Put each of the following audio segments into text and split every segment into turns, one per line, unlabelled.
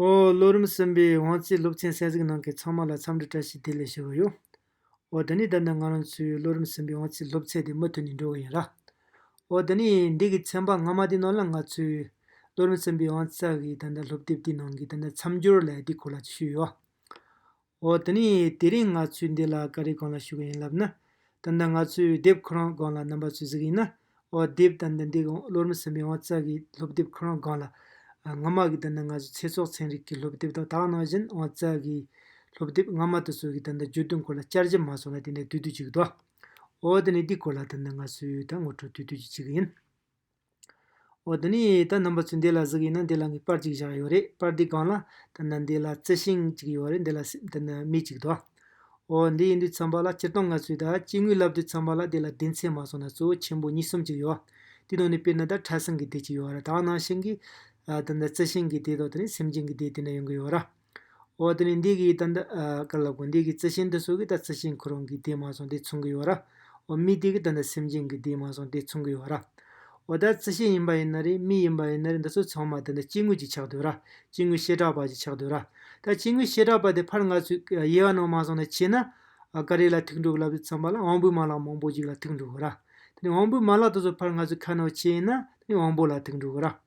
ཨོ། ལོ་རིམ་གསུམ་པའི་དབང་རྩའི་སློབ་ཚན་གསལ་གཟིགས་ནང་གི་ཚང་མ་ལ་འཚམས་འདྲི་བཀྲ་ཤིས་བདེ་ལེགས་ཞུ་གི་ཡོད། ཨོ། འདི་ནི་ད་ནི་ང་རང་ཚོའི་ལོ་རིམ་གསུམ་པའི་དབང་རྩའི་སློབ་ཚན་དེ་མུ་མཐུད་ནས་འགྲོ་གི་ཡིན་ལ། ཨོ། འདི་ནི་འདི་གི་ཚན་པ་སྔ་མ་དེ་ནང་ལ་ང་ཚོའི་ལོ་རིམ་གསུམ་པའི་དབང་རྩ་གི་ད་ལྟ་སློབ་དེབ་དེའི་ནང་གི་ད་ལྟ་མཚམས་སྦྱོར་ལས་དེ་གོ་ལ་ཞུས་ཡོད། འོ་དེ་ནས་དེ་རིང་ང་ཚོའི་འདི་ལ་ག་རེ་གང་ལ་ཞུ་གི་ཡིན་ལབ་ན། ད་ལྟ་ང་ཚོའི་དེབ་ཁོ་རང་སྒང་ལ་རྣམ་པ་ཚོས་གཟིགས་ཡིན་ན། འོ་དེབ་ད་ལྟ་འདི་གང་བློར་མི་ཟིན་པའི་འོང་རྩ་གི་སློབ་དེབ་ཁོ་རང་སྒང་ལ། སྔ་མ་གི་ད་ལྟ་ང་ཚོའི་ཚེ་སྲོག་ཚན་རིག་གི་སློབ་དེབ་དང་དག་སྣང་བཞིན་འོང་རྩ་གི། སློབ་དེབ་སྔ་མ་དེ་ཚོ་གི་ད་ལྟ་བརྗོད་དོན་སྐོར་ལ་བསྐྱར་ཞིབ་མ་སོང་ལ་དེ་འདྲའི་དུས་དུས་ཅིག་གི་འདུག་ཨ། འོ་དེ་ནས་འདི་སྐོར་ལ་ད་ལྟ་ང་ཚོའི་ད་ངོ་སྤྲོད་དུས་དུས་ཀྱི་ཅིག་ཡིན། འོ་ད་ནི་ད་རྣམ་པ་ཚོས་འདི་ལ་གཟིགས་ཡིན་ན་འདི་ལ་ངའི་པར་ཅིག་བཞག་ཡོད་རེད་པར་འདི་སྒང་ལ་ད་ནི་འདི་ལ་རྩི་ཤིང་ཅིག་ཡོད་རེད་འདི་ལ་སེམས་ད་ནི་མི་ཅིག་འདུག་འོ་འདི་ཡིན་དུས་འཚམ་པ་ལ་སྤྱིར་བཏང་ང་ཚོས་ད་སྐྱེ་དངོས་བསླབ་དུས་འཚམ་པ་ལ་འདི་ལ་སྡེ་ཚན་མ་སོང་ན་གཙོ་བོ་ཆེན་པོ་གཉིས་གསུམ་ཅིག་ཡོད་དེའི་ནང་ནས་དཔེར་ན་ད་ཁྲ་ཟིང་གི་སྡེ་ཅིག་ཡོད་ར་དྭགས་ནང་ཤིང་གི་ད་ནི་རྩི་ཤིང་གི་སྡེ་དང་ད་ནི་སེམས་ཅན་གྱི་སྡེ་དེ་འདྲ་ཡོང་གི་ཡོད་ར། འོ་དེ་ནས་འདི་གི་ད་འདི་ཀ་ལ་གོ་འདི་གི་རྩི་ཤིང་འདི་སོ་གི་ད་རྩི་ཤིང་ཁོ་རང་གི་དེ་མ་སོང་དེ་མཚུངས་གི་ཡོ་ར། འོ་མི་དེ་གི་ད་འདི་སེམས་ཅན་གི་དེ་མ་སོང་དེ་མཚུངས་གི་ཡོ་ར། འོ་ད་རྩི་ཤིང་ཡིན་པ་ཡིན་ན་རེད་མི་ཡིན་པ་ཡིན་ན་རེད་འདི་ཚོ་ཚང་མ་ད་འདི་སྐྱེ་དངོས་ཀྱི་ཆགས་སྡོད་ར་སྐྱེ་དངོས་བཤད་གྲགས་པ་ཀྱི་ཆགས་སྡོད་ར། ད་སྐྱེ་དངོས་བཤད་གྲགས་པ་དེ་ཕར་ང་ཚོས་དབྱེ་བ་ནང་མ་སོང་ན་བྱས་ན། ཀ་རེ་ལ་ཐིག་འབྲུ་ལབ་བརྩམས་པ་ལ་དབང་པོའི་མ་ལག་མང་པོ་ཞིག་ལ་ཐིག་འབྲུ་གོ་ར། དེ་ནས་དབང་པོའི་མ་ལག་དེ་ཚོ་ཕར་ང་ཚོས་ཁ་ནང་བྱས་ཡིན་ན་དེ་ནས་དབང་པོ་ལ་ཐིག་འབྲུ་གོ་ར།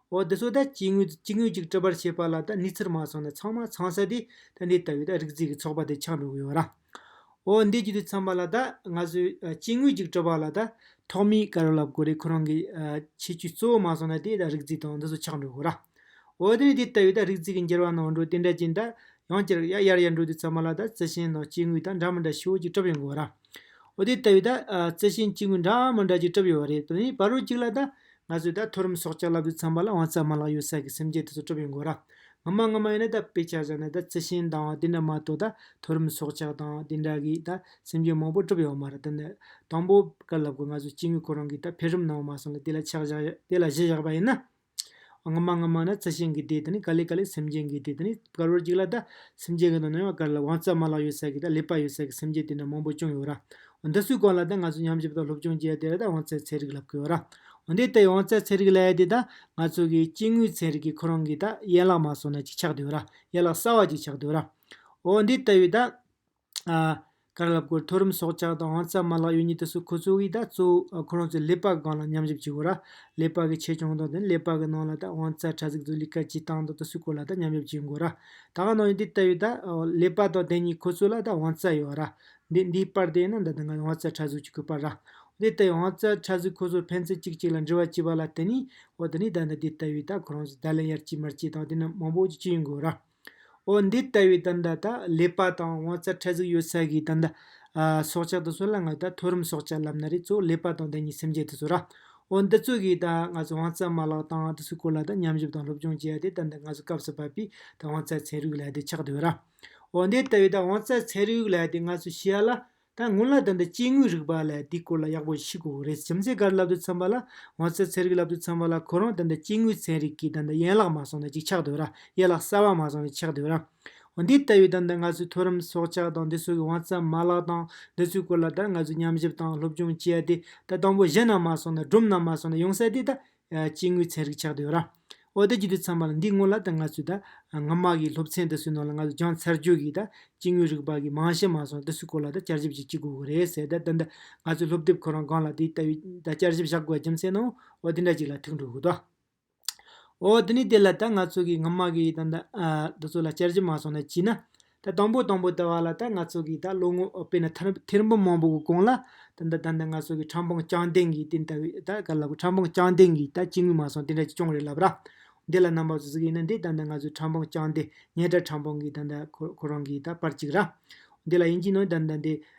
འོ་འདི་ཚོ་ད་སྐྱེ་དངོས་ཀྱི་སྐྱེ་དངོས་ཅིག་སྤྲོད་པར་བྱེད་པ་ལ་ད་གནས་ཚུལ་མ་ཚང་ན་ཚང་མ་ཚང་ས་དེ་ད་འདི་ལྟ་བུའི་ད་རིག་རྩལ་གྱི་ཚོགས་པ་དེ་ཆགས་འགྲོ་གི་ཡོད་རང། འོ་འདི་རྒྱུ་དེ་ཚང་མ་ལ་ད་ང་ཚོས་སྐྱེ་དངོས་ཅིག་སྤྲོད་པ་ལ་ད་ཐོག་མའི་དཀའ་རུང་ལ་གོ་རེ་ཁོ་རང་གི་ཁྱད་ཆོས་གཙོ་བོ་མ་ཚང་ན་དེ་ད་རིག་རྩལ་དང་འདི་ཚོ་ཆགས་འགྲོ་གི་རང། འོ་དེ་ནས་འདི་ལྟ་བུའི་ད་རིག་རྩལ་གྱི་འགྱུར་བ་ནང་འགྲོ་དེ་འདྲ་ཅན་ད་ཡང་སྐྱེ་རག་ཡ་ཡར་ཡར་འགྲོ་དུས་ཚང་མ་ལ་ད་རྩི་ཤིང་དང་སྐྱེ་དངོས་ད་འདྲ་མི་འདྲ་ཞིག་འོ་ཅིག་གྲུབ་ཡོང་གི་ཡོད་རང། འོ་དེ་ལྟ་བུའི་རྩི་ཤིང་གཅིག་མི་འདྲ་མི་འདྲ་གཅིག་གྲུབ་ཡོད་པ་རེད་དེ་ནི་བ་རོ་གཅིག་ལ་ད། ང་ཚོས་ད་མཐོ་རིམ་སྲོག་ཆགས་ལབ་རྒྱུ་ཚང་མ་ལ་དབང་རྩ་མ་ལག་ཡོད་ས་ཀྱི་སེམས་བསྐྱེད་དེ་ཚོ་གྲུབ་ཡོད་དགོས་ར། ངོ་མ་ངོ་མ་ཡིན་ན་ད་དཔེ་ཆ་བཞག་ན་ད་རྩི་ཤིང་དང་བ་དེ་འདྲ་མ་གཏོགས་ད་མཐོ་རིམ་སྲོག་ཆགས་དང་དེ་འདྲ་གིས་ད་སེམས་བསྐྱེད་མང་པོ་གྲུབ་ཡོད་མ་ར་དེ་ནི། དང་པོ་བ་ཀ་ལབ་གོ་ང་ཚོས་སྐྱེ་དངོས་ཁོ་རང་གིས་ད་འཕེལ་རིམ་གནང་བ་མ་སོང་ལ་དེ་ལ་ཆགས་བཞག་དེ་ལ་གཞི་བཞག་པ་ཡིན་ན། སྔ་མ་སྔ་མ་ན་རྩི་ཤིང་གི་སྡེ་དེ་ནི་ཀ་ལི་ཀ་ལི་སེམས་ཅན་གྱི་སྡེ་དེ་ནི་དཀར་བོར་གཅིག་ལ་ད། སེམས་ཅན་གྱི་ནང་ན་ཡང་དཀར་ལ་བང་རྩལ་མ་ལག་ཡོད་ས་གི་ད་ལེགས་པ་ཡོད་ས་གི་སེམས་ཅན་དེ་འདྲ་མང་པོ་ཅུང་ཡོད་ར། འོ་འདི་སུའི་སྐོར་ལ་ད་ང་ཚོས་ཉམས་ཞིབ་དང་སློབ་སྦྱོང་བྱེད་ཡ་དེ་ལ་ད་བང་རྩལ་ཚན་རིག་ལབ་གི་ཡོད་ར། འོ་འདི་ལྟའི་བང་རྩལ་ཚན་རིག་ལ་ཡ་དེ་ད་ང་ཚོ་གི་སྐྱེ་དངོས་ཚན་རིག་གི་ཁོ་རང་གི་ད་ཡན་ལག་མ་སོང་ན་ཅིག་ཆགས་དུ་ཡོད་ར། ཡན་ལག་གསར་བ་ཅིག་ཆགས་དུ་ཡོད་ར། འོ་འདི་ལྟ་བུའི་ད། ཀར་ལ་བསྐོར་མཐོ་རིམ་སྲོག་ཆགས་དང་རྩྭ་དམར་ལག་གཡུ་གཉིས་དུ་སོ་ཁོ་ཚོ་གིས་ད་གཙོ་བོ་ཁོ་རང་ཚོའི་ཀླད་པ་སྒང་ལ་མཉམ་ཞིབ་བྱེད་དགོས་ར། ཀླད་པ་གི་ཆེ་ཆུང་དང་དེ་ནས་ཀླད་པ་གི་ནང་ལ་ད་དབང་རྩྭ་ཕྲ་ཚིགས་དུ་ལི་ཀ་ཇི་བཏང་དང་དུ་སུས་བསྐོར་ལ་ད་མཉམ་ཞིབ་བྱེད་དགོས་ར། ད་ག་ནང་ཡིན་དེ་ལྟ་བུའི་ད་ཀླད་པ་དང་དེ་གཉིས་ཁོ་ཚོ་ལ་ད་དབང་རྩྭ་ཡོད་ར། འདི་འདིའི་པར་དེ་ཡིན་ན་ད་དེ་འགའ་དབང་རྩྭ་ཕྲ་ཟུག་ཅིག་གི་པར་ར། འོ་དེ་ལྟ་བུའི་དབང་རྩྭ་ཕྲ་ཟུག་ཁོ་ཚོར་ཕན་ཚུན་གཅིག་གཅིག་ལ་འདྲི་བ་བྱེད་པ་ལ་དེ་ནས་འོ་དེ་ནས་ད་འདི་ལྟ་བུའི་ད་ཁོ་རང་ཚོ་ད་ལན་ཡར་སྐྱེས་མར་སྐྱེས་དང་དེ་ནས་མང་པོ་ཅིག་ཅི་ཡིན་དགོས་ར། འོ་འདི་ལྟ་བུའི་དང་ད་ལྟ་ལེགས་པ་དང་དབང་རྩ་ཕྲ་གཟུགས་ཡོད་ས་གིས་དང་ད་སྲོག་ཆགས་དང་སྲོག་ལ་ང་ད་མཐོ་རིམ་སྲོག་ཆགས་ལབ་ན་རེ་གཙོ་བོ་ལེགས་པ་དང་ད་ཉིད་སེམས་ཅན་དུ་གསོ་ར། འོ་འདི་ཚོ་གིས་ད་ང་ཚོ་དབང་རྩ་མ་ལག་དང་དུ་སུ་སྐོར་ལ་ད་མཉམ་ཞུབ་དང་སློབ་སྦྱོང་བྱེད་ཡ་དེ་དང་ད་ང་ཚོ་སྐབས་སུ་བབས་པའི་ད་དབང་རྩ་ཚན་རིག་ལ་དེ་ཆགས་དུ་ཡོད་ར། འོ་འདི་ལྟ་བུའི་ད་དབང་རྩ་ཚན་རིག་ལ་དེ་ང་ཚོ་ཤེས་ཡ་ལ་ད་སྔོན་ལ་དོན་དུ་སྐྱེ་དངོས་རིག་པ་ལས་དེའི་སྐོར་ལ་ཡག་པོ་ཤེས་དགོས་རེད་ཁྱིམ་མཚེས་འགར་ལབ་ཏུ་འཚམ་པ་ལ་ང་ཚོའི་ཚན་རིག་ལབ་ཏུ་འཚམ་པ་ལ་ཁོ་རང་དོན་དུ་སྐྱེ་དངོས་ཚན་རིག་གིས་དོན་དུ་ཡན་ལག་མ་བཟུང་ན་ཅིག་ཆགས་འདོད་ར་ཡན་ལག་གསར་བ་མ་བཟུང་ནས་ཆགས་འདོད་ར། འོ་འདི་ལྟ་བུའི་དོན་དུ་ང་ཚོས་མཐོ་རིམ་སྲོག་ཆགས་དང་འདི་སོགས་ཀྱི་དབང་རྩ་མ་ལག་དང་འདི་ཚོའི་སྐོར་ལ་ད་ང་ཚོས་མཉམ་ཞིབ་དང་སློབ་སྦྱོང་བྱེད་ཡ་དེ་ད་དང་པོ་གཞི་ན་མ་སོང་ན་སྒྲོམ་ན་མ་སོང་ན་ཡོང་ས་དེ་ད་སྐྱེ་དངོས་ཚན་རིག་ཆགས་ཏུ་ཡོད། ཨོ་ད་ཀྱིས་དུས་མཚམས་བར་འདི་སྔོན་ལ་ད་ང་ཚོས་ད་སྔ་མ་གིས་སློབ་ཚན་དེ་སུའི་ནང་ལ་ང་ཚོས་སྦྱངས་ཚར་རྗོད་གིས་ད་སྐྱེ་དངོས་རིག་པ་གི་མང་ཞེས་མ་སོང་དེ་སུའི་སྐོར་ལ་ད་བསྐྱར་ཞིབ་ཅིག་བགྱི་དགོས་ཀྱི་རེད་ཟེར་ད་ད་ང་ཚོས་སློབ་དེབ་ཁོ་རང་སྒང་ལ་དེའི་ལྟ་བའི་ད་བསྐྱར་ཞིབ་བཞག་དགོས་པ་རྒྱུ་མཚན་ནོ་ཨོ་དེ་འདྲ་ཅིག་ལ་ཐུག་འགྲོ་དགོས་ཏོ། ཨོ་དེ་ནི་དེ་ལ་ད་ང་ཚོ་གིས་སྔ་མ་གིས་ད་ད་ཚོ་ལ་བསྐྱར་ཞིབ་མ་སོང་ན་བགྱིས་ན། ད་དང་པོ་དང་པོ་ད་བར་ལ་ད་ང་ཚོ་གིས་ད་ལོ་ངོ་དཔེ་ན་ཐེར་འབུམ་མང་པོ་གི་གོང་ལ། ད་ད་ད་ང་ཚོ་གིས་ཁྲམ་ཕང་རྐྱང་འདེང་གིས་དེ་ལྟ་བུའི་ད་ག་ལ་དགོས་ཁྲམ་ཕང་རྐྱང་འདེང་གིས་ད་ཅི་ངུས་མ་སོང་དེ་འདྲ་ཅིག་ཅོང་རེ་ལབ་ར། འདི་ལ་རྣམ་པ་ཚོ་གཟིགས་ཡིན་ན་འདི་ད་ད་ང་ཚོས་ཁྲམ་ཕང་རྐྱང་འདེངས་ཉེས་དྲགས་ཁྲམ་ཕང་གིས་ད་ད་ཁོ་རང་གིས་ད་པར་ཅིག་ར། འདི་ལ་དབྱིན་ཇིའི་ནང་ད་ད་འདི་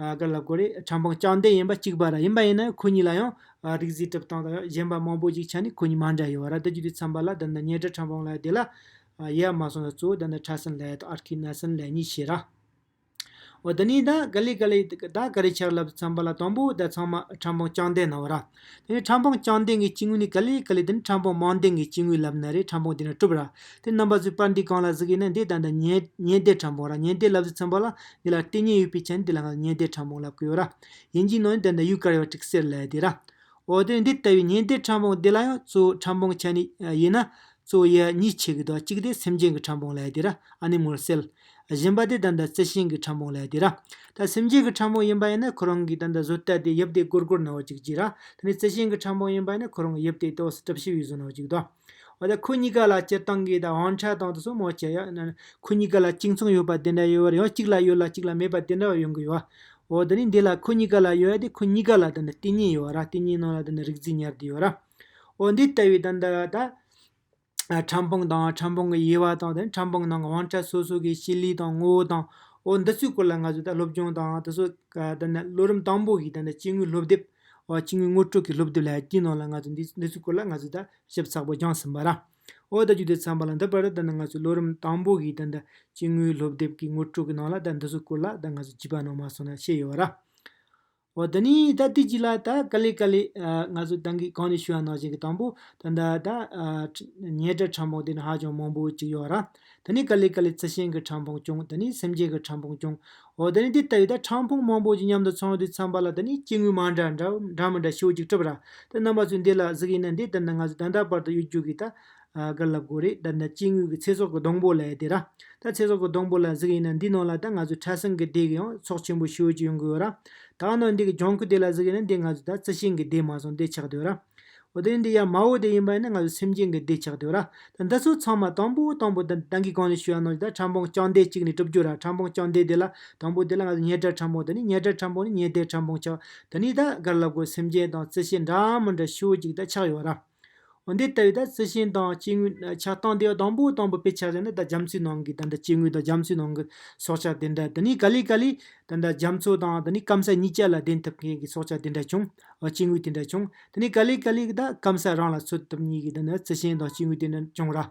ག་ལ་དགོས་རེད་ཁྲམ་པང་རྐྱང་འདེད་ཡིན་པ་གཅིག་པ་ར་ཡིན་པ་ཡིན་ན་ཁོ་གཉིས་ལ་ཡང་རིག་རྩིས་གྲུབ་སྟངས་དང་གཞན་པ་མང་པོ་ཞིག་ཆ་ནས་ཁོ་གཉིས་མ་འདྲ་ཡོད་ར་འདི་བརྒྱུད་དུས་འཚམས་པ་ལ་འདི་འདྲ་ཉེ་དྲ་ཁྲམ་པང་ལ་བསྡད་ལ་ཡེ་ཡ་མ་སོང་ན་གཙོ་བོ་འདི་འདྲ་ཁྲ་སིན་ལའེ་དང་ཨར་ཁི་ན་སིན་ལའེ་གཉིས་བྱེད་ར། འོ་འདི་གཉིས་ད་ག་ལེ་ག་ལེ་ད་ག་རེ་ཆགས་ལབ་འཚམས་པ་ལ་དང་པོ་ད་ཚང་མ་ཁྲམ་པང་རྐྱང་འདེད་གནང་བ་ར། དེ་ནས་ཕྲ་འཕང་བཅང་ལྡན་གྱི་སྐྱེ་དངོས་ནི་ཀ་ལི་ཀ་ལི་དེ་ནི་ཕྲ་འཕང་མང་ལྡན་གྱི་སྐྱེ་དངོས་ལབ་ན་རེ་ཕྲ་འཕང་དེ་ནས་གྲུབ་ར་དེ་རྣམ་པ་བཟོས་པར་འདི་གང་ལ་གཟིགས་ཡིན་ན་འདི་ད་ལྟ་ཉེ་ཉེ་འདས་ཕྲ་འཕང་ར་ཉེ་འདས་ལབ་བཟོས་ཚན་པ་ལ་འདི་ལ་ལྟས་ངན་ཡོད་པས་ཁྱེད་ནི་འདི་ལ་ང་ཉེ་འདས་ཕྲ་འཕང་ལབ་གི་ཡོད་ར་ཡིན་གྱི་ནང་ནས་དེ་ད་ཡུལ་ཀར་ཡོད་ཀྲིག་སེར་ལས་དེ་ར་འོ་དེ་ནས་འདི་ལྟ་བུའི་ཉེ་འདས་ཕྲ་འཕང་འདི་ལ་ཡང་གཙོ་བོ་ཕྲ་འཕང་ཁྱེད་ནི་ཡིན་ན་གཙོ་བོ་ཡ་གཉིས་ཆེ་གི་དོ་གཅིག་དེ་སེམས་ཅན་གྱི་ཕྲ་འཕང་ལས་དེ་ར་ཨ་ནི་མོར་སེལ། བཞིན་པ་དེ་ད་ལྟ་རྩི་ཤིང་གི་ཕྲ་མོ་ལས་དེ་ར་ད་སེམས་ཅན་གྱི་ཕྲ་མོ་ཡིན་པ་ཡིན་ན་ཁོ་རང་གིས་ད་ལྟ་བཟོ་ལྟ་དེ་དབྱིབས་དེ་གུར་གུར་ན་བ་ཅིག་གྱིས་ར་ད་ནི་རྩི་ཤིང་གི་ཕྲ་མོ་ཡིན་པ་ཡིན་ན་ཁོ་རང་གི་དབྱིབས་དེ་ཏོག་སི་ཏྲབ་ཤི་བའི་བཟོ་ན་བ་ཅིག་དང། འོ་ད་ཁོ་གཉིས་ཀ་ལ་སྤྱིར་བཏང་གི་ད་དབང་ཆ་དང་དུ་སོ་མོ་ཆེ་ཡ། ཁོ་གཉིས་ཀ་ལ་གཅིག་མཚུངས་ཡོད་པ་དེ་འདྲ་ཡོད་བར་ཡང་གཅིག་ལ་ཡོད་ལ་གཅིག་ལ་མེད་པ་དེ་འདྲ་བ་ཡོང་གི་ཡོད། འོ་ད་ནི་འདི་ལ་ཁོ་གཉིས་ཀ་ལ་ཡོད་ཡ་དེ་ཁོ་གཉིས་ཀ་ལ་ད་ནི་ལྟེ་གཉིས་ཡོད་ར་ལྟེ་གཉིས་ནང་ལ་ད་ནི་རིག་འཛིན་ཉེར་བདུན་ཡོད་ར། འོ་འདི་ལྟ་བུའི་ད་ད། ཕྲ་འབངས་དང་ཕྲ་འབངས་ཀྱི་དབྱེ་བ་དང་དེ་ཕྲ་འབངས་ནང་གི་དབང་ཆ་སོ་སོ་གི་སྤྱི་ལེ་དང་ངོ་བོ་དང་འོ་འདི་ཚོའི་སྐོར་ལ་ང་ཚོས་ད་སློབ་སྦྱོང་དང་དེ་ཚོ་དེ་ནས་སློབ་རིམ་དང་པོ་ཡི་དེ་ནས་སྤྱི་དངུལ་སློབ་དེབ་འོ་སྤྱི་དངུལ་དངུལ་སྤྲོད་ཀྱི་སློབ་དེབ་ལ་དཀྱིལ་ནང་ལ་ང་ཚོས་འདི་འདི་ཚོའི་སྐོར་ལ་ང་ཚོས་ད་ཞིབ་ཚགས་པོ་སྦྱངས་ཟིན་པ་ར། འོ་ད་བརྒྱུད་དེ་འཚམས་པ་ལ་འདི་པར་དེ་ནས་ང་ཚོས་སློབ་རིམ་དང་པོ་ཡི་དེ་ནས་སྤྱི་དངུལ་སློབ་དེབ་ཀྱི་དངུལ་སྤྲོད་ཀྱི་ནང་ལ་ད་འདི་ཚོའི་སྐོར་ལ་ད་ང་ཚོས་བྱིས་པ་ནང་མ་སོང་ན་ཤེས་ཡོད་ར། འོ་ད་ནི་ད་དུས་གཅིག་ལ་ད་ཀ་ལི་ཀ་ལི། ང་ཚོ་ཏང་གིས་གང་ནས་ཞུ་བ་ནང་བཞིན་གྱི་དང་པོ། ད་ད་ད། ཉེ་དྲ་ཕྲ་འཕོང་དེ་ནི་ཧ་ཅང་མང་པོ་གཅིག་ཡོད་ར། ད་ནི་ཀ་ལི་ཀ་ལི་རྩི་ཤིང་གི་ཕྲ་འཕོང་ཅུང་ད་ནི་སེམས་ཅན་གྱི་ཕྲ་འཕོང་ཅུང། འོ་ད་ནི་དེ་ལྟ་བུའི་ད་ཕྲ་འཕོང་མང་པོ་ཅིག་མཉམ་དུ་ཚང་དུས་ཚངས་པ་ལ་ད་ནི་སྐྱེ་དངོས་མང་འདྲ་འདྲ་མི་འདྲ་ཤོས་ཅིག་གྲུབ་ར། ད་རྣམ་པ་ཚོས་འདི་ལ་གཟིགས་ཡིན་ན་འདི་ལྟར་ན་ང་ཚོས་ད་ལྟ་བར་དུ་གཡོ་སྒྱུ་གི་ད། དགར་ལབ་དགོས་རེད་ད་ནི་སྐྱེ་དངོས་ཀྱི་ཚེ་སྲོག་གི་སྡོང་པོ་ལ་ཡི་དེ་ར། ད་ཚེ་སྲོག་གི་སྡོང་པོ་ལ་གཟིགས་ཡིན་ན་འདི་ནང་ལ་ད་ང་ཚོའི་ཁྲ་སིང་གི་སྡེ་གི་ཡང་ཚོགས་ཆེན་པོ་ཤི་འོས་ཀྱི་ཡོང་གི་ཡོད་ར། ད་འོ་ན་འདི་གི་ལྗང་ཁུ་སྡེ་ལ་གཟིགས་ཡིན་ན་འདི་ང་ཚོའི་ད་རྩི་ཤིང་གི་སྡེ་མ་སོང་སྡེ་ཆགས་དུས་ར། འོ་དེ་འདི་ཡ་མའོ་སྡེ་ཡིན་པ་ཡིན་ན་ང་ཚོའི་སེམས་ཅན་གི་སྡེ་ཆགས་དུས་ར། ད་འདི་ཚོ་ཚང་མ་དང་པོ་དང་པོ་ད་ཏང་གི་གང་ནས་ཤུ་ཡང་ནང་ཆུ་ད་ཁྲམ་ཕང་རྐྱང་སྡེ་གཅིག་ནས་གྲུབ་རྒྱུ་ར་ཁྲམ་ཕང་རྐྱང་སྡེ་དེ་ལ་དང་པོ་དེ་ལ་ང་ཚོ་ཉེ་དྲ་ཁྲམ་ཕང་ད་ནི་ཉེ་དྲ་ཁྲམ་ཕང་ནི་ཉེ་སྡེ་ཁྲམ་ཕང་ཆགས་ད་ནི་ད་དགར་ལབ་དགོས་སེམས་ཅན་དང་རྩི་ཤིང་འདྲ་མི་འདྲ་ཤི་འོས་ཅིག་ད་ཆགས་ཡོད་ར། འོན་ཏེ་དེ་བས་ད་རྩི་ཤིང་དང་སྐྱེ་དངོས་ཆགས་སྟངས་དེ་དང་པོ་དང་པོ་དཔེ་ཆ་ཟེར་ན་ད་རྒྱ་མཚོའི་ནང་གི་ད་ལྟ་སྐྱེ་དངོས་དང་རྒྱ་མཚོའི་ནང་གི་སྲོག་ཆགས་དེ་འདྲ་དེ་ནི་ག་ལེ་ག་ལེ་ད་ལྟ་རྒྱ་མཚོ་དང་དེ་ནི་སྐམ་ས་གཉིས་ཀྱི་ལ་བརྟེན་ཐུབ་མཁན་གྱི་སྲོག་ཆགས་དེ་འདྲ་བྱུང་སྐྱེ་དངོས་དེ་འདྲ་བྱུང་དེ་ནི་ག་ལེ་ག་ལེ་ད་སྐམ་ས་རང་ལ་འཚོ་ཐུབ་མཁན་གྱི་ད་རྩི་ཤིང་དང་སྐྱེ་དངོས་དེ་འདྲ་བྱུང་ར།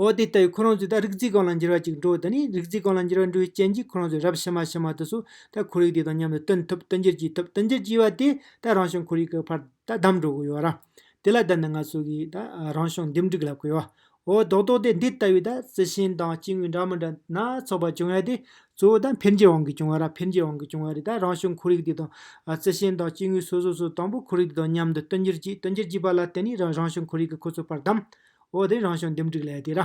འོ་དེ་ལྟ་བུའི་ཁོ་རང་ཚོའི་ད་རིག་རྩིས་གང་ལ་འགྱུར་བ་ཅིག་འགྲོ་ད་ནི་རིག་རྩིས་གང་ལ་འགྱུར་བ་འགྲོ་བའི་རྐྱེན་གྱིས་ཁོ་རང་ཚོས་རབ་ཕྱི་མ་ཕྱི་མ་དུ་སུ་ད་ཁོར་ཡུག་དེ་དང་མཉམ་དུ་བསྟུན་ཐུབ་བསྟུན་འགྱུར་གྱིས་ཐུབ་བསྟུན་འགྱུར་གྱིས་པ་དེས་ད་རང་བྱུང་ཁོར་ཡུག་གི་བར་ད་བསྡམས་འགྲོ་དགོས་ཡོད་ར། དེ་ལ་ད་ནི་ང་ཚོ་གིས་ད་རང་བྱུང་འདེམས་སྒྲིག་ལབ་དགོས་ཡོད། འོ་རྡོག་རྡོག་དེ་འདི་ལྟ་བུའི་ད་རྩི་ཤིང་དང་སྐྱེ་དངོས་འདྲ་མི་འདྲ་སྣ་ཚོགས་པ་བྱུང་ཡོད་དེ། གཙོ་བོ་ད་འཕེལ་འགྱུར་དབང་གིས་བྱུང་བ་ར་འཕེལ་འགྱུར་དབང་གིས་བྱུང་བ་རེད་ད་རང་བྱུང་ཁོར་ཡུག་དེ་དང། རྩི་ཤིང་དང་སྐྱེ་དངོས་སོ་སོ་སོ་དང་པོ་ཁོར་ཡུག་དེ་དང་མཉམ་དུ་བསྟུན་འགྱུར་གྱིས་བསྟུན་འགྱུར་གྱིས་པ་ལ་དེ་ནི་རང་བྱུང་ཁོར་ཡུག་གི་ཁོ་ཚོའི་བར་བསྡམས། འོ་དེ་རང་བྱུང་འདེམས་སྒྲིག་ལས་དེ་ར།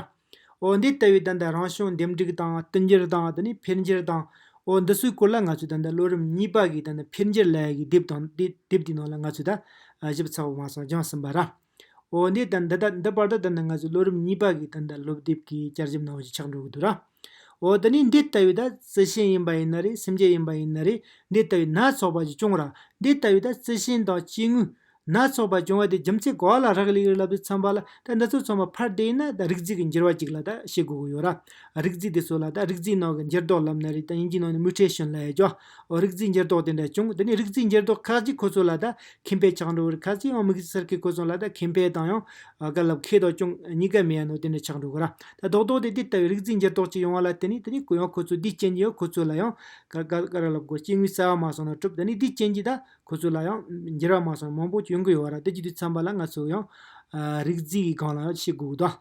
འོ་འདི་ལྟ་བུའི་ད་ལྟ་རང་བྱུང་འདེམས་སྒྲིག་དང་བསྟུན་འགྱུར་དང་དེ་ནས་འཕེལ་འགྱུར་དང། འོ་འདི་སུའི་སྐོར་ལ་ང་ཚོས་ད་ལྟ་ལོ་རིམ་གཉིས་པ་གི་ད་ནི་འཕེལ་འགྱུར་ལས་ཀྱི་དེབ་དང་དེ་དེབ་དེའི་ནང་ལ་ང་ཚོས་ད་ཞིབ་ཚགས་པོ་མ་སོང་སྦྱངས་ཟིན་པ་ར། འོ་འདི་ད་འདི་ད་འདི་བར་དུ་ད་ནི་ང་ཚོས་ལོ་རིམ་གཉིས་པ་གི་ད་ལྟ་སློབ་དེབ་ཀྱི་བསྐྱར་ཞིབ་གནང་བ་ཞིག་ཆགས་འགྲོ་གི་འདུག་ར། འོ་དེ་ནི་འདི་ལྟ་བུའི་ད་རྩི་ཤིང་ཡིན་པ་ཡིན་ན་རེ་སེམས་ཅན་ཡིན་པ་ཡིན་ན་རེ་འདི་ལྟ་བུའི་སྣ་ཚོགས་པ་ཅིག་བྱུང་ར་འདི་ལྟ་བུའི་ད་རྩི་ཤིང་དང་སྐྱེ་དངོས་སྣ་ཚོགས་པ་བྱུང་བ་དེ་རྒྱུ་མཚན་ག་ལ་རག་ལས་རིགས་ལབ་ཏུ་འཚམ་པ་ལ་ད་འདི་ཚོ་ཚང་མ་ཕར་བལྟས་ན་ད་རིག་རྩིས་ཀྱི་འགྱུར་བ་ཅིག་ལ་ད་བྱེད་དགོས་ཀྱི་ཡོད་ར་རིག་རྩིས་དེ་ཚོ་ལ་ད་རིག་རྩིས་ནང་གི་འགྱུར་ལྡོག་ལབ་ན་རེ་ད་ཡིན་གྱི་ནང་ནས་མུས་ཁྲེ་ཤོན་ལ་ཡ་རྒྱོ། འོ་རིག་རྩིས་འགྱུར་ལྡོག་དེ་འདྲ་བྱུང་དེ་ནས་རིག་རྩིས་འགྱུར་ལྡོག་ཁག་ཅིག་ཁོ་ཚོ་ལ་ད་ཁིམ་པའི་ཆག་འགྲོ་རིག་ཁག་ཅིག་ཡང་མིག་རྩིས་གསར་ཁས་ཁོ་ཚོ་ལ་ད་ཁིམ་པའི་དང་ཡང་ག་ལབ་ཁས་དང་ཅུང་གཉིས་ཀ་མེད་ཡ་ནོ་དེ་འདྲ་ཆག་འགྲོ་གོ་ར་ད་རྡོག་རྡོག་དེ་དེ་ལྟ་བུའི་རིག་རྩིས་འགྱུར་ལྡོག་ཅིག་ཡོང་བ་ལ་དེ་ནས་དེ་ནས་གུ་ཡངས་ཁོ་ཚོ་དེའི་རྐྱེན་གྱིས་ཡང་ཁོ་ཚོ་ལ་ཡང་ག་ག་ག་ར་ལབ་གོ་སྐྱེ་དངོས་གསར་བ་མ་སོང་ན་གྲུབ་དེ་ནས་དེའི་རྐྱེན་གྱིས་ད་ཁོ་ཚོ་ལ་ཡང་འགྱུར་བ་མ་སོང་ན་མང་པོ་ཅིག་ཡོང་གི་ཡོད་ར་དེ་ཀྱི་དུས་འཚམས་པ་ལ་ང་ཚོ་ཡང་རིག་རྩིས་ཀྱི་སྒང་ལ་ཡང་ཤེས་དགོས་གོ་ད།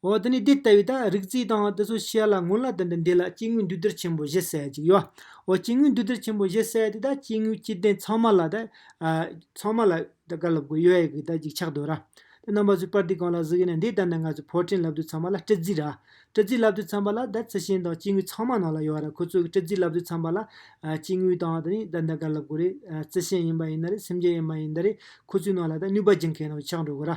འོ་དེ་ནས་དེ་ལྟ་བུའི་ད་རིག་རྩེའི་དང་དེ་ཚོ་བཤད་ལ་སྔོན་ལ་དེ་འདྲ་འདི་ལ་སྐྱེ་དངོས་འདུས་སྡེར་ཆེན་པོ་བཞི་གསལ་ཅིག་ཡོད། འོ་སྐྱེ་དངོས་འདུས་སྡེར་ཆེན་པོ་བཞི་གསལ་དེ་ད་སྐྱེ་དངོས་སྐྱེ་ལྡན་ཚང་མ་ལ་ད། ཚང་མ་ལ་ད་བཀའ་སློབ་དགོས་ཡོད་ཡག་གི་ད་ཅིག་ཆགས་འདོད་ར། དེ་རྣམ་པ་ཚོའི་པར་དེ་གང་ལ་གཟིགས་ཡིན་ན་འདི་ལྟར་ན་ང་ཚོས་ཕོར་ཕྲེང་ལབ་དུས་ཚང་མ་ལ་སྤྲི་རྫི་ར། སྤྲི་རྫི་ལབ་དུས་ཚང་མ་ལ་ད་རྩི་ཤིང་དང་སྐྱེ་དངོས་ཚང་མ་ནང་ལ་ཡོད་ར་ཁོ་ཚོས་སྤྲི་རྫི་ལབ་དུས་ཚང་མ་ལ། སྐྱེ་དངོས་དང་དེ་ནས་ད་ད་བཀའ་སློབ་དགོས་རེད་རྩི་ཤིང་ཡིན་པ་ཡིན་ན་རེད་སེམས་ཅན་ཡིན་པ་ཡིན་ད་རེད་ཁོ་ཚོའི་ནང་ལ་ད་ནུས་པ་སྦྱིན་མཁན་ནང་ཆགས་འགྲོ་དགོས་ར།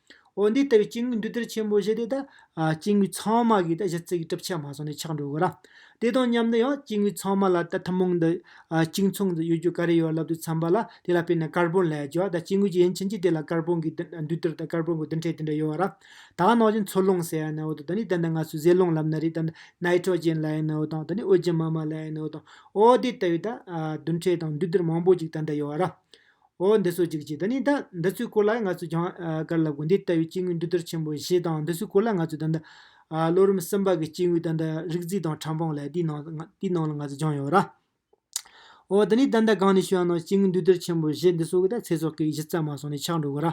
འོ་འདི་ལྟ་བུའི་སྐྱེ་དངོས་འདུས་སྡེར་ཆེན་པོ་བཞི་དེ་དག་སྐྱེ་དངོས་ཚང་མ་གིས་གཞི་རྩའི་གྲུབ་ཆ་མ་སོང་ནས་ཆགས་འགྲོ་དགོས་ར། དེ་དང་མཉམ་དུ་ཡང་སྐྱེ་དངོས་ཚང་མ་ལ་ཐུན་མོང་དུ་གཅིག་མཚུངས་སུ་ཡོད་རྒྱུ་ག་རེ་ཡོད་ལབ་ཏུ་འཚམ་པ་ལ་དེ་ལ་དཔེར་ན་ཀར་བོན་ལ་ཡང་བྱོ་ད་སྐྱེ་དངོས་ཀྱི་ཡན་ཕྱིན་ཅི་དེ་ལ་ཀར་བོན་གྱི་འདུས་སྡེར་དང་ཀར་བོན་གྱི་བསྡུ་འཕྲད་དེ་འདྲ་ཡོད་ར། ད་ནང་བཞིན་མཚོ་རླུང་ཟེར་ཡ་ན་འོ་དང་ད་ནི་ད་ལྟ་ང་ཚོས་ཟས་རླུང་ལབ་ན་རེད་ད་ནི་ནཱི་ཀྲོ་ཅན་ལ་ཡ་ན་འོ་དང་ད་ནི་ཨོ་རྒྱན་མ་མ་ལ་ཡ་ན་འོ་དང་འོ་འདི་ལྟ་བུའི་ད་བསྡུ་འཕྲད་དང་འདུས་སྡེར་མང་པོ་ཅིག་ད་འདྲ་ཡོད་ར། འོ་འདི་ཚོ་ཅིག་ཅིག་དང་ནི་ད་འདི་ཚོའི་སྐོར་ལ་ང་ཚོས་ཀྱང་དཀར་ལ་དགོན་སྡེ་ལྟ་བུའི་སྐྱེ་དངོས་འདུས་སྡོད་ཆེན་པོ་བཞི་དང་འདི་ཚོའི་སྐོར་ལ་ང་ཚོས་ད་ལྟ། ལོ་རིམ་གསུམ་པ་གི་སྐྱེ་དངོས་ད་ལྟ་རིག་རྩིས་དང་ཕྲ་འབངས་ལས་དེའི་ནང་དེའི་ནང་ལ་ང་ཚོས་སྦྱངས་ཡོད་ར། འོ་འདི་ནི་ད་ལྟ་གང་ནས་ཤོད་ཡང་ནང་སྐྱེ་དངོས་འདུས་སྡོད་ཆེན་པོ་བཞི་འདི་ཚོ་གི་ད་ཚེ་སྲོག་གི་གཞི་རྩ་མ་སོང་ནས་ཆག་འགྲོ་གི་ར།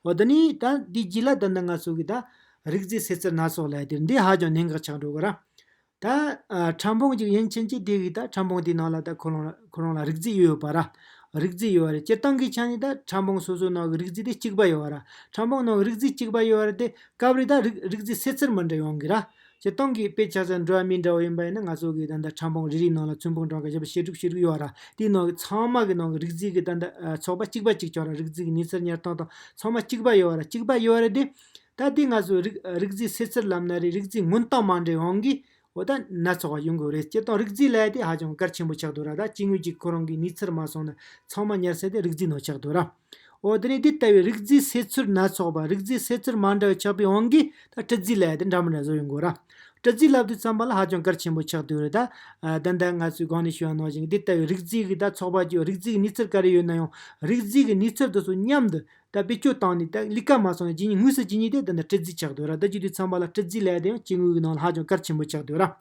འོ་འདི་ནི་ད་འདི་རྗེས་ལ་ད་ལྟ་ང་ཚོ་གི་ད་རིག་རྩིས་སེར་རྩེར་སྣ་ཚོགས་ལས་དེར་འདི་ཧ་ཅང་གནད་འགག་ཆག་འགྲོ་གི་ར། ད་ཁྲམ་བུང་ཅིག་ཡིན་ཕྱིན་ཅི་དེ་གིས་ད་ཁྲམ་བུང་དེའི་ནང་ལ་ད་ཁོ་རང་ཁོ་རང་ལ་རིག་རྩིས་ཡོད་ཡོད་པ་ར། རིག་རྩིས་ཡོད་ར་སྤྱིར་བཏང་གི་ཆ་ནས་ད་ཁྲམ་བུང་སོ་སོའི་ནང་གི་རིག་རྩིས་དེ་གཅིག་པ་ཡོད་ར། ཁྲམ་བུང་ནང་གི་རིག་རྩིས་གཅིག་པ་ཡོད་ར་དེ་སྐབས་རེ་ད་རིག་རིག་རྩིས་སེ་ཚིར་མི་འདྲ་ཡོང་གི་ར། སྤྱིར་བཏང་གི་དཔེ་ཆ་སོགས་འགྲོ་བ་མིའི་འདྲ་བོ་ཡིན་པ་ཡིན་ན་ང་ཚོ་གིས་ད་ད་ཁྲམ་བུང་རེ་རེའི་ནང་ལ་ཚོན་བུང་གྲངས་ཀ་བཞི་པ་ཞེ་དྲུག་ཞེ་དྲུག་ཡོད་ར་དེའི་ནང་གི་ཚང་མ་གི་ནང་གི་རིག་རྩིས་གི་ད་ད་ཚོགས་པ་གཅིག་པ་གཅིག་ཆོག་ར་རིག་རྩིས་གི་ཉི་ཚེར་ཉེར་སྟོང་དང་ཚང་མ་གཅིག་པ་ཡོད་ར་གཅིག་པ་ཡོད་ར་དེ། ད་ལྟའི་ང་ཚོའི་རིགས་རིགས་རྫས་སེལ་ཚུལ་ལམ་ན་རིགས་རིགས་རྫས་མངོན་སྟངས་མ་འདྲེས་དབང་གིས་བོ་ད་སྣ་ཚོགས་པ་ཡོང་གི་རེད་སྤྱིར་བཏང་རིགས་རྫས་ལས་དེ་ཧ་ཅང་གལ་ཆེན་པོ་ཆགས་འདུག་ར་ད་སྐྱེ་དངོས་གཅིག་ཁོ་རང་གིས་ནུས་ཚུར་མ་སོང་ན་ཚང་མ་ཉར་ཚད་དེ་རིགས་རྫས་ནང་ཆགས་འདུག་ར། འོ་དེ་ནས་དེ་ལྟ་བུའི་རིགས་རྫས་སེལ་ཚུལ་སྣ་ཚོགས་པ་རིགས་རྫས་སེལ་ཚུལ་མ་འདྲ་བའི་ཆགས་པའི་དབང་གིས་ད་སྤྲི་རྫས་ལས་དེ་འདྲ་མི་འདྲ་བཟོ་ཡོང་གི་ར། སྤྲི་རྫས་ལབ་དུས་རྩམ་པ་ལ་ཧ་ཅང་གལ་ཆེན་པོ་ཆགས་འདུག་རེད་ད། ད་ལྟ་ང་ཚོའི་སྒང་ནས་ཤོད་ན་ནང་བཞིན་དེ་ལྟ་བུའི་རིགས་རྫས་ཀྱི་ད་ཚོགས་པ་བཅུ་རིགས་རྫས་ཀྱི་ནུས་ཚུར་ག་རེ་ཡོད་ན་ཡང་རིགས་རྫས་ཀྱི་ནུས་ཚུར་དུ་སོ་མཉམ་དུ་ད་བེད་སྤྱོད་བཏང་ནས་ད་གླིག་ཀ་མ་སོང་ཡང་ཇི་སྙེད་དངུལ་ཟེར་ཇི་སྙེད་དེ་ད་ནི་སྤྲི་རྫིས་ཆགས་དུས་ར་ད་ཅིག་དུས་ཚངས་པ་ལ་སྤྲི་རྫིས་ལས་དེ་ཡང་སྐྱེ་དངོས་ཀྱི་ནང་ལ་ཧ་ཅང་གར་ཆེན་པོ་ཆགས་དུས་ར།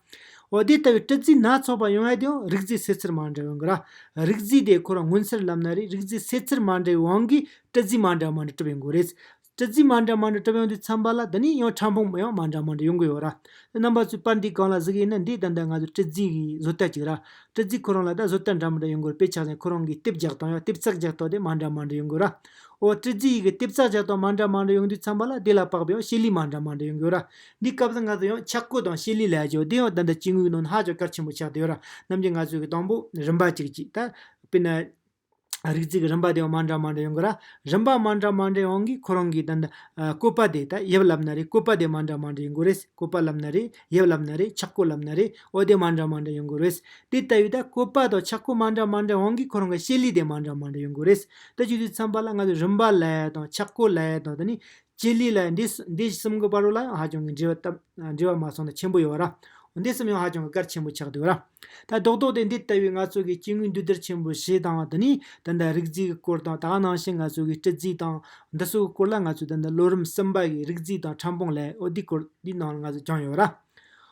འོ་དེ་ལྟ་བུའི་སྤྲི་རྫིས་སྣ་ཚོགས་པ་ཡོང་ཡས་དེ་ཡང་རིག་རྫས་ཟེར་ཚུལ་མ་འདྲ་བའི་འགོ་ར། རིག་རྫས་དེ་ཁོ་རང་མངོན་གསལ་ལབ་ན་རེ་རིག་རྫས་ཟེར་ཚུལ་མ་འདྲ་བའི་དབང་གིས་སྤྲི་རྫིས་མ་འདྲ་མ་འདྲ་གྲུབ་པའི་འགོ་རེད། སྤྲི་རྫིས་མ་འདྲ་མ་འདྲ་གྲུབ་ཡང་དུས་ཚངས་པ་ལ་ད་ནི་ཡང་ཕྲ་ཕུང་ཡང་མ་འདྲ་མ་འདྲ་ཡོང་གི་ཡོད་ར། རྣམ་པ་ཚོས་པར་འདི་གང་ལ་གཟིགས་ཡིན་ན་འདི་ད་ལྟ་ང་ཚོས་སྤྲི་རྫིས་ཀྱི་བཟོ་ལྟ་ཅིག་ར། སྤྲི་རྫིག་ཁོ་རང་ལ་ད་གཟོད་སྟར་འདྲ་མི་འདྲ་ཡོང་གི་རེད་དཔེ་ཆ་ཚང་ཁོ་རང་གིས་ལྟེབ་རྒྱག་སྟངས་ཡང་ལྟེབ་ཙག་རྒྱག་སྟངས་དེ་མ་འདྲ་མ་འདྲ་ཡོང་གི་ར། ཨོ་སྤྲི་རྫིག་ཡིད་གི་ལྟེབ་ཙག་རྒྱག་སྟངས་མ་འདྲ་མ་འདྲ་ཡོང་དུས་ཚང་མ་ལ་དེ་ལ་དཔག་པའི་ཡང་ཤེལ་ལི་མ་འདྲ་མ་འདྲ་ཡོང་གི་ཡོད་ར། འདི་སྐབས་སུ་ང་ཚོ་ཡང་ཆག་སྒོ་དང་ཤེལ་ལི་ལས་ཀྱང་དེ་ཡང་ད་ལྟ་སྐྱེ་དངོས་ནང་ཧ་ཅང་གལ་ཆེན་པོ་ཆགས་བསྡད་ཡོད་ར། རྣམ་རྒྱལ་ང་ཚོས་གི་དང་པོ་རིམ་པ་གཅིག་གཅིག་ད། དཔེར་ན། རིགས་གཅིག་རིམ་པ་དེ་མ་འདྲ་མ་འདྲ་ཡོང་གི་ར། རིམ་པ་མ་འདྲ་མ་འདྲ་ཡོང་གི་ཁོ་རང་གི་དེ་འདྲ་བཀོད་པ་དེ་ད་ཡབ་ལབ་ན་རེ་བཀོད་པ་དེ་མ་འདྲ་མ་འདྲ་ཡོང་གི་རེད་བཀོད་པ་ལབ་ན་རེ་ཡབ་ལབ་ན་རེ་ཆག་སྒོ་ལབ་ན་རེ་འོ་དེ་མ་འདྲ་མ་འདྲ་ཡོང་གི་རེད། དེ་ལྟ་བུའི་ད་བཀོད་པ་དང་ཆག་སྒོ་མ་འདྲ་མ་འདྲ་ཡོང་གི་ཁོ་རང་གི་བཤད་ལུས་དེ་མ་འདྲ་མ་འདྲ་ཡོང་གི་རེད། ད་ཅིག་ཏུ་འཚམས་པ་ལ་ང་ཚོ་རིམ་པ་ལ་ཡ་དང་ཆག་སྒོ་ལ་ཡ་དང་དེ་ནི་སྤྱིར་ལུས་ལ་འདི་གསུམ་གྱི་བར་ལའང་ཧ་ཅང་གི་འབྲེལ་བ་འབྲེལ་བ་མ་སོང་ན་ཆེན་པོ་ཡོད་ར། འོ་འདི་གསུམ་ཡང་ཧ་ཅང་གི་གར་ཆེན་པོ་ཆགས་འདུག་ར། ད་རྡོག་རྡོག་སྟེ་འདི་ལྟ་བུའི་ང་ཚོ་གི་སྐྱེ་དངོས་འདུས་སྡེར་ཆེན་པོ་ཞེས་དང་དེ་ནི་ད་ལྟ་རིག་རྩིས་ཀྱི་སྐོར་དང་དག་སྣང་ཞིང་ང་ཚོ་གི་སྤྲི་རྩིས་དང་འདི་སོགས་ཀྱི་སྐོར་ལ་ང་ཚོས་ད་ལྟ་ལོ་རིམ་གསུམ་པ་གི་རིག་རྩིས་དང་ཕྲ་འཕོང་ལས་འོ་འདི་སྐོར་འདི་སྣང་ལ་ང་ཚོས་སྦྱངས་ཡོད་ར།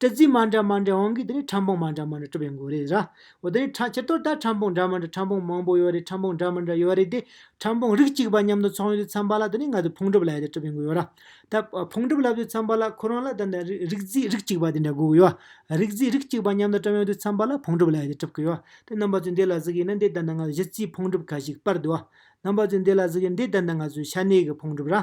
ཏྲི་ཙི་མ་འདྲ་མ་འདྲ་འོང་གི་དེ་ནས་ཕྲ་འབུང་མ་འདྲ་མ་འདྲ་གྲུབ་པའི་འགོ་རེད་ར། འོ་དེ་ནས་ཕྱི་དོར་ལྟར་ཕྲ་འབུང་འདྲ་མ་འདྲ་ཕྲ་འབུང་མང་པོ་ཡོད་རེད་ཕྲ་འབུང་འདྲ་མ་འདྲ་ཡོད་རེད་དེ། ཕྲ་འབུང་རིགས་གཅིག་པ་མཉམ་དུ་ཚོང་ཡུལ་དུ་འཚམ་པ་ལ་དེ་ནས་ང་ཚོས་ཕུང་གྲུབ་ལབ་ཡོད་དེ་གྲུབ་པའི་འགོ་ཡོད་ར། ད་ཕུང་གྲུབ་ལབ་ཡོད་འཚམ་པ་ལ་ཁོ་རང་ལ་ད་ནས་རིགས་རྫས་རིགས་གཅིག་པ་དེ་འདྲ་དགོས་ཀྱི་ཡོད། རིགས་རྫས་རིགས་གཅིག་པ་མཉམ་དུ་བཀྲམ་ཡོད་དུས་འཚམ་པ་ལ་ཕུང་གྲུབ་ལབ་ཡོད་དེ་གྲུབ་ཀྱི་ཡོད། དེ་རྣམ་པ་ཚོས་འདི་ལ་གཟིགས་ཡིན་ན་འདི་ལྟར་འདི་ང་ཚོས་གཞི་རྩའི་ཕུང་གྲུབ་ཁ་ཞིག་སྤར་འདུག་ཨ། རྣམ་པ་ཚོས་འདི་ལ་གཟིགས་ཡིན་འདི་ལྟར་འདི་ང་ཚོའི་ཤ་གནད་ཀྱི་ཕུང་གྲུབ་ར།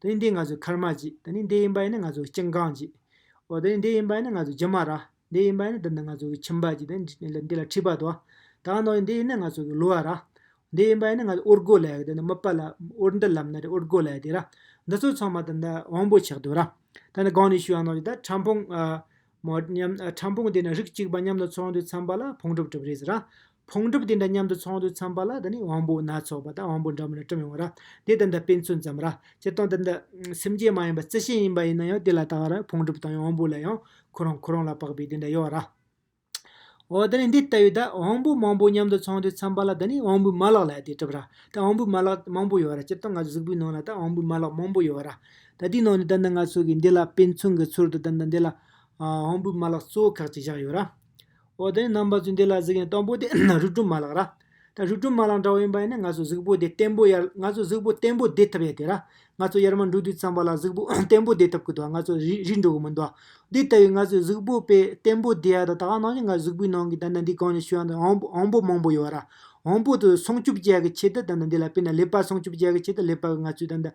དེ་ནི་འདི་ང་ཚོའི་ཁར་མ་གཅིག་དེ་ནི་འདི་ཡིན་པ་ཡིན་ནི་ང་ཚོའི་སྐྱིན་གང་གཅིག། འོ་དེ་ནི་འདི་ཡིན་པ་ཡིན་ནི་ང་ཚོའི་རྒྱུ་མ་ར། འདི་ཡིན་པ་ཡིན་ནི་འདི་ནི་ང་ཚོའི་ཁྱིམ་པ་གཅིག་དེ་ནི་འདི་ལ་འཁྲིས་པ་དོ། དང་ནོ་འདི་ཡིན་ནི་ང་ཚོའི་ལུས་བ་ར། འདི་ཡིན་པ་ཡིན་ནི་ང་ཚོའི་དབུར་རྒོལ་ལས་དེ་ནི་མི་སྤ་ལ་དབུར་འདི་ལམ་ནི་དབུར་རྒོལ་ལས་དེ་ར། འདི་ཚོ་ཚང་མ་དེ་འདི་དབང་པོ་ཆགས་དུས་ར། དེ་ནི་གང་ནས་ཞུས་ཡང་ནོ་ད་ཕྲ་ཕུང། མོ། ཕྲ་ཕུང་དེ་འདྲ་རིགས་གཅིག་པ་མཉམ་དུ་ཚོགས་འདུས་འཚམས་པ་ལ་ཕུང་གྲུབ་གྲུབ་རེད་ཟེར་ར། ཕུང་གྲུབ་དེ་འདྲ་མཉམ་དུ་ཚོགས་འདུས་འཚམས་པ་ལ་ད་ནི་དབང་པོ་སྣ་ཚོགས་པ་དང་དབང་པོ་འདྲ་མིན་ལ་སྐྲུན་ཡོང་བ་ར། དེ་ད་ལྟ་དཔེ་མཚོན་ཙམ་ར། སྤྱིར་བཏང་ད་ལྟ་སེམས་ཅན་མ་ཡིན་པ་རྩི་ཤིང་ཡིན་པ་ཡིན་ན་ཡང་དེ་ལ་ལྟ་བ་ར་ཕུང་གྲུབ་དང་ཡང་དབང་པོ་ལ་ཡང་ཁོ་རང་ཁོ་རང་ལ་བབས་པས་དེ་འདྲ་ཡོད་ར། འོ་ད་ནི་འདི་ལྟ་བུའི་ད་དབང་པོ་མང་པོ་མཉམ་དུ་ཚོགས་འདུས་འཚམས་པ་ལ་ད་ནི་དབང་པོའི་མ་ལག་ལ་ཡང་དེ་གྲུབ་ར། ད་དབང་པོའི་མ་ལག་མང་པོ་ཡོད་ར་སྤྱིར་བཏང་ང་ཚོ་གཟུགས་པོའི་ནང་ལ་ད་དབང་པོའི་མ་ལག་མང་པོ་ཡོད་ར། ད་དེའི་ནང་ནས་ད་ལྟ་ང་ཚོ་གིས་འདི་ལ་དཔེ་མཚོན་གྱི་ཚུལ་དུ་ད་ལྟ་འདི་ལ་དབང་པོའི་མ་ལག་གཙོ་བོ་ཁག་ཅིག་བཞག་ཡོད། འོ་དེ་ནི་རྣམ་པ་ཚོས་འདི་ལ་གཟིགས་ཡིན་དང་པོ་དེ་རིག་གྲོལ་མ་ལག་ར། ད་རིག་གྲོལ་མ་ལག་འདྲ་བོ་ཡིན་པ་ཡིན་ན་ང་ཚོ་གཟུགས་པོ་དེ་བརྟན་པོ་ཡར་ང་ཚོ་གཟུགས་པོ་བརྟན་པོ་བསྡད་ཐུབ་ཡ་དེ་ར། ང་ཚོ་ཡར་མར་འགྲོ་དུས་ཙམ་པ་ལ་གཟུགས་པོ་བརྟན་པོ་བསྡད་ཐུབ་ཀི་འདུག་ང་ཚོ་རིག་རིག་འགྲོ་གི་མི་འདུག་དེ་ལྟ་བུའི་ང་ཚོའི་གཟུགས་པོ་དཔེ་བརྟན་པོ་བསྡད་ཡ་ད་ད་ལྟ་ནང་བཞིན་ང་གཟུགས་པོའི་ནང་གི་ད་ད་འདི་གང་ནས་བྱུང་ཡ་ད་དབང་པོ་དབང་པོ་མང་པོ་ཡོད་ར། དབང་པོ་དེ་སྲུང་སྐྱོབ་བྱ་ཡ་གི་ཆེད་དུ་ད་ད་འདི་ལ་དཔེར་ན་ལེགས་པར་སྲུང་སྐྱོབ་བྱ་ཡ་གི་ཆེད་དུ་ལེགས་པར་ང་ཚོས་ད་ད་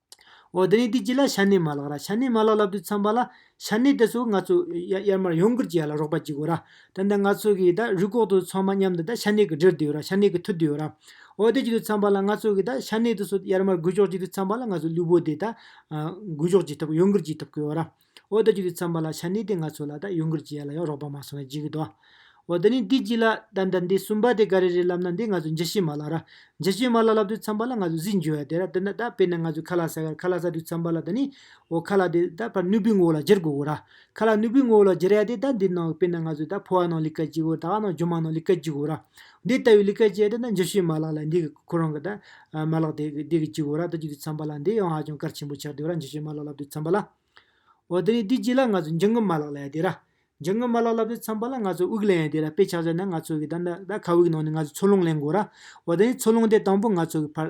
འོ་དེ་རིང་དེ་གཅིག་ལ་ཤ་གནད་མ་ལགས་ར་ཤ་གནད་མ་ལགས་ལབ་དུས་འཚམས་པ་ལ། ཤ་གནད་དེ་ཚོ་ང་ཚོ་ཡར་མར་ཡོང་ཁུལ་གྱི་ཡ་ལ་རོགས་པ་བགྱི་དགོས་ར། དེ་འདྲ་ང་ཚོ་གིས་ད་རུས་ལྐོག་ཏུ་ཚང་མ་མཉམ་དུ་ད་ཤ་གནད་གི་འདྲིར་བསྡུས་ཡོད་ར་ཤ་གནད་གི་ཐུར་བསྡུས་ཡོད་ར། འོ་དེ་བགྱི་དུས་འཚམས་པ་ལ་ང་ཚོ་གིས་ད་ཤ་གནད་དེ་ཚོ་ཡར་མར་འགུལ་ཕྱོགས་བགྱི་དུས་འཚམས་པ་ལ་ང་ཚོ་ལུས་པོ་དེ་ད་འགུལ་ཕྱོགས་བགྱི་ཐུབ་ཀི་ཡོང་ཁུལ་བགྱི་ཐུབ་ཀི་ཡོད་ར། འོ་ད་ཁྱོད་ཀྱིས་བརྩམས་པ་ལ་ཆ་འདི་དེ་ང་ཚོ་ལ་ད་ཡུང་ཀུར་གྱི་ཡ་ལ་ཡང་རོགས་པ་མ་སོང་བས་འཇིག་གི་འདུག་འོ་ད་ནི་འདི་གཅིག་ལ་ད་ད་འདི་གསུམ་པ་དེ་ག་རེ་རེད་ལབ་ན་འདི་ང་ཚོ་འཇའ་ཤེལ་མ་ལ་ར། འཇའ་ཤེལ་མ་ལ་ལབ་དུས་བརྩམས་པ་ལ་ང་ཚོ་གཟིགས་འགྱོད་ཡ་དེ་ར་དེ་འདྲ་ད་དཔེར་ན་ང་ཚོས་ཁ་ལག་ཟ་གར་ཁ་ལག་ཟ་དུས་བརྩམས་པ་ལ་ད་ནི། འོ་ཁ་ལག་དེ་ད་ཕར་སྣོད་བུའི་ངོ་བོ་ལ་སྦྱར་དགོས་གོ་ར། ཁ་ལག་སྣོད་བུའི་ངོ་བོ་ལ་སྦྱར་ཡ་དེ་ད་འདི་ནང་དཔེར་ན་ང་ཚོས་ད་ཕོ་བ་ནང་ལི་ཀ་གཅིག་གོ་ད་ཨ་ནང་ཇོ་མང་ནང་ལི་ཀ་གཅིག་གོ་ར། འདི་ལྟ་བུའི་ལི་ཀ་ཅན་དེ་ནི་འཇུ་བྱེད་མ་ལག་ལ་འདི་གི་ཁོ་རང་གི་དང། མ་ལག་དེ་གི་གཅིག་བོ་ར་ལྟོ་གཅིག་ཏུ་འཚམ་པ་ལ་འདི་ཡང་ཧ་ཅང་གར་ཆེན་པོ་ཆགས་དུས་ར་འཇུ་བྱེད་མ་ལག་ལབ་ཏུ་འཚམ་པ་ལ། འོ་དེ་ནས་དེ་གཅིག་ལ་ང་ཚོ་འཇུ་ངོས་མ་ལག་ལ་ཡང་དེ་ར། འཇུ་ངོས་མ་ལག་ལབ་ཏུ་འཚམ་པ་ལ་ང་ཚོ་དབུགས་ལེན་ཡང་དེ་ར་དཔེ་ཆ་བཟོས་ན་ང་ཚོ་གི་ད་ཁ་དབུགས་ནང་ནས་ང་ཚོ་འཚོ་རླུང་ལེན་དགོས་ར། འོ་དེ་ནས་འཚོ་རླུང་དེ་དང་པོ་ང་ཚོ་གི་ཕར།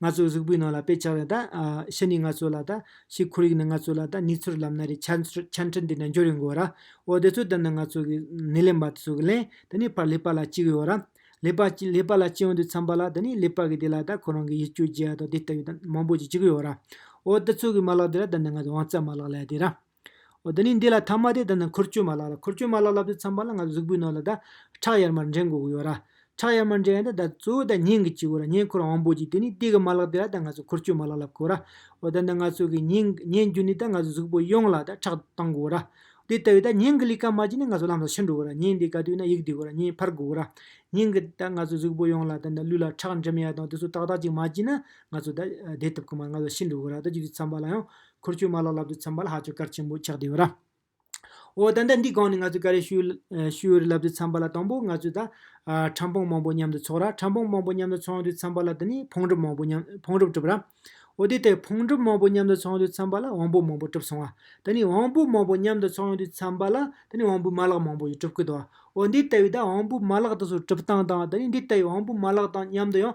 ང་ཚོའི་གཟུགས་པོའི་ནང་ལ་དཔེ་ཆགས་ལ་ད། ཕྱི་ནས་ང་ཚོ་ལ་ད། ཕྱིའི་ཁོར་ཡུག་ནི་ང་ཚོ་ལ་ད་ནུས་ཚོར་ལམ་སྣ་རེ་ཆ་འཕྲིན་དེ་འདྲ་འབྱོར་ཡོང་གི་ཡོད། འོ་དེ་ཚོ་ལྟར་ན་ང་ཚོ་གི་ནི་ལེན་པ་ཚོ་གི་ལན་དེ་ནི་ཕར་ལེགས་པ་ལ་ཅི་གི་ཡོད། ལེགས་པ་ཅི་ལེགས་པ་ལ་ཅི་ཡོང་དུས་འཚམས་པ་ལ་དེ་ནི་ལེགས་པ་གི་དེ་ལ་ད་ཁོ་རང་གི་ཡིད་སྐྱོ་བྱེད་ཡ་དང་དེ་ལྟ་བུའི་ད་མང་པོ་ཅི་ཅི་གི་ཡོད། འོ་དེ་ཚོ་གི་མ་ལག་དེ་ར་ད་ནི་ང་ཚོ་དབང་རྩ་མ་ལག་ལས་དེ་ར། འོ་ད་ནི་འདི་ལ་ཐ་མ་དེ་ལྟ་ན་འཁོར་སྐྱོད་མ་ལག་ལ་འཁོར་སྐྱོད་མ་ལག་ལབ་དུས་ཚངས་པ་ལ་ང་ཚོ་གཟུགས་པོའི་ནང་ལ་ད་ཁྲག་ཡར་མར་འདྲེན་དགོས་ཀྱི་ཡོད་ར། ཁྲག་ཡར་མར་འདྲེན་ཡང་ད་ད་གཙོ་བོ་ད་སྙིང་གི་སྤྱི་བོ་ར་སྙིང་འཁོར་དབང་པོ་གཅིག་དེ་ནི་སྟེ་གི་མ་ལག་དེ་ལ་ད་ང་ཚོ་འཁོར་སྐྱོད་མ་ལག་ལབ་དགོས་ར། འོ་ད་ནི་ང་ཚོ་གི་སྙིང་སྙིང་རྒྱུ་ནི་ད་ང་ཚོ་གཟུགས་པོ་ཡོངས་ལ་ད་ཁྲག་གཏང་དགོས་ར། དེ་ལྟ་བུའི་ད་སྙིང་གི་ལུས་ཀ་མ་བཅིངས་ན་ང་ཚོ་ལམ་ལ་ཕྱིར་འགྲོ་དགོས་ར་སྙིང་འདི་ག་དུས་ན་ཡིག་འདི་དགོས་ར་སྙིང་འཕར་དགོས་ར། སྙིང་གི་ད་ང་ཚོ་གཟུགས་པོ་ཡོངས་ལ་ད་ད་ལུས་ལ་ཁྲག་འགྲིམ་ཡ་དང་དེ་ཚོ་ཏག་ཏག་ཅིག་མ་བཅིངས་ན་ང་ཚོ་ད་བདེ་ཐུབ་ཀྱི་མ་ར་ང་ཚོ་ཤི་འགྲོ་དགོས་ར་ད་གཅིག་དུས་ཚངས་པ་ལ་ཡང་འཁོར་ཆུ་མ་ལ་ལབ་ཏུ་འཚམ་པ་ལ་ཧ་ཆུ་དཀར་ཆེན་པོ་ཆགས་བདེ་བ་ར། འོ་ད་ལྟ་འདི་གང་ནས་ང་ཚོས་ཀ་རའི་ཤུལ་རེ་ལབ་ཏུ་འཚམ་པ་ལ་དང་པོ་ང་ཚོས་ད། ཁྲམ་ཕོང་མང་པོ་མཉམ་དུ་འཚོགས་ར་ཁྲམ་ཕོང་མང་པོ་མཉམ་དུ་འཚོང་དུ་འཚམ་པ་ལ་དེ་ནས་ཕོང་གྲུབ་མང་པོ་མཉམ་ཕོང་གྲུབ་གྲུབ་ར། འོ་དེ་ལྟར་ཕོང་གྲུབ་མང་པོ་མཉམ་དུ་འཚོང་དུ་འཚམ་པ་ལ་དབང་པོ་མང་པོ་གྲུབ་སོང་བ། དེ་ནས་དབང་པོ་མང་པོ་མཉམ་དུ་འཚོང་དུ་འཚམ་པ་ལ་དེ་ནས་དབང་པོའི་མ་ལག་མང་པོ་ཡང་གྲུབ་ཀི་འདུག་བ། འོ་འདི་ལྟ་བུའི་ད་དབང་པོའི་མ་ལག་དེ་ཚོ་གྲུབ་སྟངས་དང་དེ་ནས་འདི་ལྟ་བུའི་དབང་པོའི་མ་ལག་དང་མཉམ་དུ་ཡང་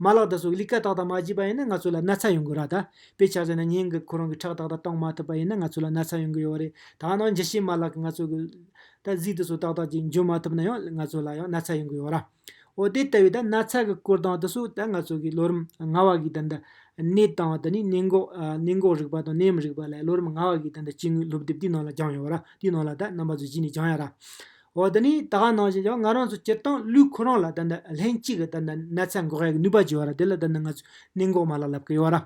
མ་ལག་དང་སོགས་ཀྱི་ལིཀ྄་དག་དང་མ་བགྱིས་པ་ཡིན་ན་ང་ཚོ་ལ་ན་ཚ་ཡོང་གི་ར་ད་པའི་ཆ་ཟེར་ན་ཉིན་གུབ་ཁོ་རང་གི་ཁྲག་དག་དང་གཏོང་མ་ཐུབ་པ་ཡིན་ན་ང་ཚོ་ལ་ན་ཚ་ཡོང་གི་ཡོད་རེད་ད་ནང་འཇི་བྱེད་མ་ལག་གི་ང་ཚོ་གི་ད་གཟིགས་དུ་སོགས་དག་དག་ཅིག་འཇོན་མ་ཐུབ་ན་ཡང་ང་ཚོ་ལ་ཡང་ན་ཚ་ཡོང་གི་ཡོད་ར། འོ་དེ་ལྟ་བུའི་ད་ན་ཚ་གི་སྐོར་དང་དུ་སོགས་ད་ང་ཚོ་གི་ལོ་རིམ་ལྔ་བ་གི་ད་ནད་དང་ད་ནི་ནད་འགོག་ནད་འགོག་རིག་པ་དང་ནད་མི་རིག་པ་ལ་ལོ་རིམ་ལྔ་བ་གི་ད་ནི་སྤྱི་དངོས་སློབ་དེབ་དེའི་ནང་ལ་སྦྱངས་ཡོད་ར་དེའི་ནང་ལ་ད་རྣམ་པ་ཚོ་བགྱིས་ནས་སྦྱངས་ཡ་ར། འོ་དེ་ནས་ད་ག་གནང་བཞིན་ཡང་ང་རང་ཚོ་སྤྱིར་བཏང་ལུས་ཁོ་རང་ལ་ད་ནི་ལྷན་གཅིག་གི་ད་ནི་ན་ཚ་འགོག་ཡག་ནུས་པ་བྱེད་བ་ར་དེ་ལ་ད་ནི་ང་ཚོས་གནད་འགོག་མ་ལག་ལབ་ཀི་ཡོད་ར།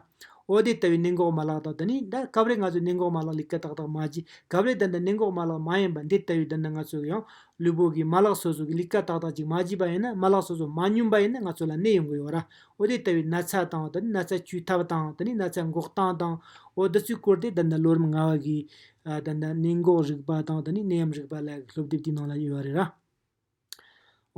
འོ་དེ་ལྟ་བུའི་གནད་འགོག་མ་ལག་དང་ད་ནི་ད་སྐབས་རེ་ང་ཚོས་གནད་འགོག་མ་ལག་ལས་ཀ་ཏག་ཏག་མ་བྱས་སྐབས་རེ་ད་ནི་གནད་འགོག་མ་ལག་མ་ཡིན་པ་འདི་ལྟ་བུའི་ད་ནི་ང་ཚོས་ཡང་ལུས་པོ་གི་མ་ལག་སོ་སོ་གི་ལས་ཀ་ཏག་ཏག་ཅིག་མ་བྱས་པ་ཡིན་ན་མ་ལག་སོ་སོ་མ་སྙོམས་པ་ཡིན་ན་ང་ཚོ་ལ་ནད་ཡོང་གི་ཡོད་ར། འོ་དེ་ལྟ་བུའི་ན་ཚ་དང་ད་ནི་ན་ཚ་བཅོས་ཐབས་དང་ད་ནི་ན་ཚ་འགོག་སྟངས་དང་འོ་འདི་ཚོའི་སྐོར་དེ་ད་ནི་ལོ་རིམ་ལྔ་བ་གི་ད་ནི་གནས་འགོག་རིག་པ་དང་དེ་ནས་གནས་ཡམས་རིག་པ་ལ་སློབ་དེབ་ཀྱི་ནང་ལ་ཡོད་པ་རེད།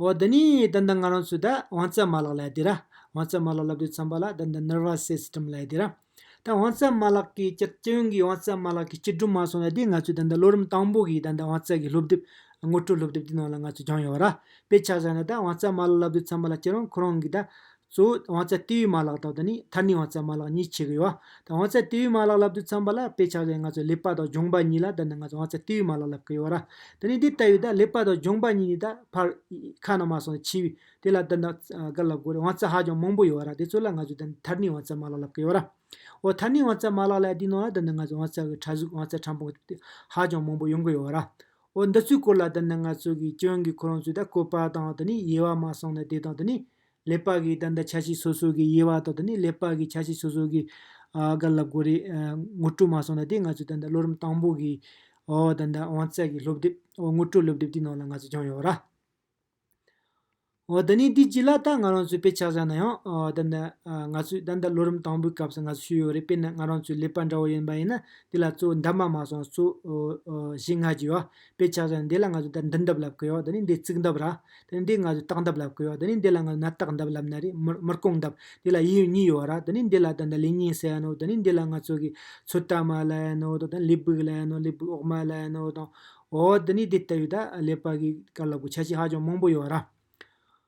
འོ་ད་ནི་ད་ནི་ང་རང་ཚོས་ད་དབང་རྩ་མ་ལག་ལ་ཡི་ར། དབང་རྩ་མ་ལག་ལབ་དུས་ཚངས་པ་ལ་ད་ནི Nervous System ལ་ཡི་ར། ད་དབང་རྩ་མ་ལག་གི་སྤྱི་སྤྱི་ཡོངས་ཀྱི་དབང་རྩ་མ་ལག་གི་སྤྱི་སྒྲུབ་མ་སོང་ལ་དེ་ང་ཚོས་ད་ནི་ལོ་རིམ་དང་པོ་གི་ད་ནི་དབང་རྩ་གི་སློབ་དེབ་ངོ་སྤྲོད་སློབ་དེབ་ཀྱི་ནང་ལ་ང་ཚོས་སྦྱངས་ཡོད་པ་ར། དཔེ་ཆ་བཞག་ན་ད་དབང་རྩ་མ་ལག་ལབ་དུས་ཚངས་པ་ལ་ཁྱེད་རང་ཁོ་རང་གི་ད་གཙོ་བོ་དབང་རྩ་ལྟེ་བའི་མ་ལག་དང་དེ་ནི་མཐར་ནུས་དབང་རྩའི་མ་ལག་གཉིས་ཆེ་གི་ཡོད། དབང་རྩའི་ལྟེ་བའི་མ་ལག་ལབ་དུས་ཚངས་པ་ལ་དཔེ་ཆགས་ཀྱི་ང་ཚོས་ལེགས་པ་དང་གྱོང་པ་གཉིས་ལ་འདི་ནི་ང་ཚོས་དབང་རྩའི་ལྟེ་བའི་མ་ལག་ལབ་གི་ཡོད། དེ་ནི་འདི་ལྟ་བུའི་ལེགས་པ་དང་གྱོང་པ་གཉིས་ནི་ད་བར་ཁ་ན་མ་སོང་བའི་ཆེ་བའི་དེ་ལ་འདི་ནི་འགའ་ལབ་དགོས་རེད་དབང་རྩ་ཧ་ཅང་མང་པོ་ཡོད་དེ་ཚོ་ལ་ང་ཚོས་འདི་ནི་མཐར་ནུས་དབང་རྩའི་མ་ལག་ལབ་གི་ཡོད། འོ་མཐར་ནུས་དབང་རྩའི་མ་ལག་ལ་ཡང་དེའི་ནང་ལ་འདི་ནི་ང་ཚོས་དབང་རྩ་གི་ཕྲ་གཟུགས་དབང་རྩའི་ཕྲ་ཕུང་གི་ཧ་ཅང་མང་པོ་ཡོང་གི་ཡོད། འོ་འདི་ཚོའི་སྐོར་ལ་འདི་ནི་ང་ཚོ་གི་སྐྱོན་གི་ཁོ་རང་ཚོས་ད་བཀོད་པ་དང་དེ་ནི་དབྱེ་བ་མ་སོང་ནས་དེ་དང་དེ་ནི་ལས་པ་གིས་ད་ལྟ་ཆ་ཤས་སོ་སོ་གི་དབྱེ་བ་དང་དེ་ནས་ལས་པ་གིས་ཆ་ཤས་སོ་སོ་གི་སྒ་ལབ་དགོས་རེད། ངོ་སྤྲོད་མ་སོང་ན་དེ་ང་ཚོས་ད་ལྟ་བློ་རིམ་དང་པོ་གི་འོག་ད་ལྟ་དབང་རྩ་གི་སློབ་དེབ་འོག་ངོ་སྤྲོད་སློབ་དེབ་དེའི་ནང་ལ་ང་ཚོས་སྦྱངས་ཡོད་ར། འོ་ད་ནི་དེ་ཅི་ལ་ད་ང་རང་ཚོས་དཔེ་ཆ་བཟའ་ན་ཡང་ད་ནི་ང་ཚོས་ད་ལྟ་བློ་རིམ་དང་པོའི་སྐབས་སུ་ང་ཚོས་ཞུས་ཡོད་རེད་དཔེར་ན་ང་རང་ཚོའི་ལས་པ་འདྲ་བོ་ཡིན་པ་ཡིན་ན་དེ་ལ་གཙོ་བོ་འདབ་མ་མ་སོང་ན་གཙོ་བོ་བཞི་ལྔ་བརྒྱུད་ཨ། དཔེ་ཆ་བཟོ་ན་འདི་ལ་ང་ཚོས་ད་འདི་འདབ་ལབ་གི་ཡོད་ད་ནི་འདི་རྩིག་འདབ་ར། ད་ནི་འདི་ང་ཚོས་སྟག་འདབ་ལབ་གི་ཡོད་ད་ནི་འདི་ལ་ང་ཚོས་ནད་རྟགས་འདབ་ལབ་ན་རེད་མིར་རྐོང་འདབ། འདི་ལ་ཡིད་གཉིས་ཡོད་ར་ད་ནི་འདི་ལ་ད་ནི་ལི་ཉིང་ཟེར་ཡ་ནོ་ད་ནི་འདི་ལ་ང་ཚོ་གི་ཚོད་ལྟ་མ་ལ་ཡ་ནོ་ད་ནི་ལི་སྦུག་ལ་ཡ་ནོ་ལི་སྦུག་འོག་མ་ལ་ཡ་ནོ་དང། འོ་ད་ནི་འདི་ལྟ་བུའི་ད་ལས་པ་གི་དཀར་ལག་གི་ཆ་ཤས་ཧ་ཅང་མང་པོ་ཡོད་ར།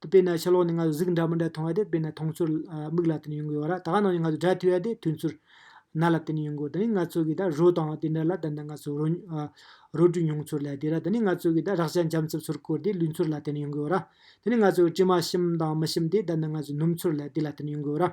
དེ་དཔེར་ན་ཕྱི་ལོགས་ནས་ང་ཚོ་གཟུགས་འདྲ་མི་འདྲ་མཐོང་བ་དེ་དཔེར་ན་མཐོང་ཚུལ་མིག་ལ་བརྟེན་ནས་ཡོང་གི་ཡོད་ར། ད་གནངས་ནས་ང་ཚོ་སྒྲ་ཐོས་ཡ་དེ་ཐོས་ཚུལ་སྣ་ལ་བརྟེན་ནས་ཡོང་གི་ཡོད། ད་ནི་ང་ཚོ་གིས་ད་རོ་བཏང་བ་དེ་འདྲ་ལ་ད་ནི་ང་ཚོ་རོ། རོ་བྲུས་མྱོང་ཚུལ་ལ་དེ་ར། ད་ནི་ང་ཚོ་གིས་ད་རག་ཅག་འཇམ་རྩུབ་ཚུར་བསྐོར་དེ་ལུས་ཚུལ་ལ་བརྟེན་ནས་ཡོང་གི་ཡོད་ར། ད་ནི་ང་ཚོ་གིས་དྲི་མ་ཞིམ་དང་མི་ཞིམ་དེ་ད་ནི་ང་ཚོ་སྣུམ་ཚུལ་ལ་དེ་ལ་བརྟེན་ནས་ཡོང་གི་ཡོད་ར།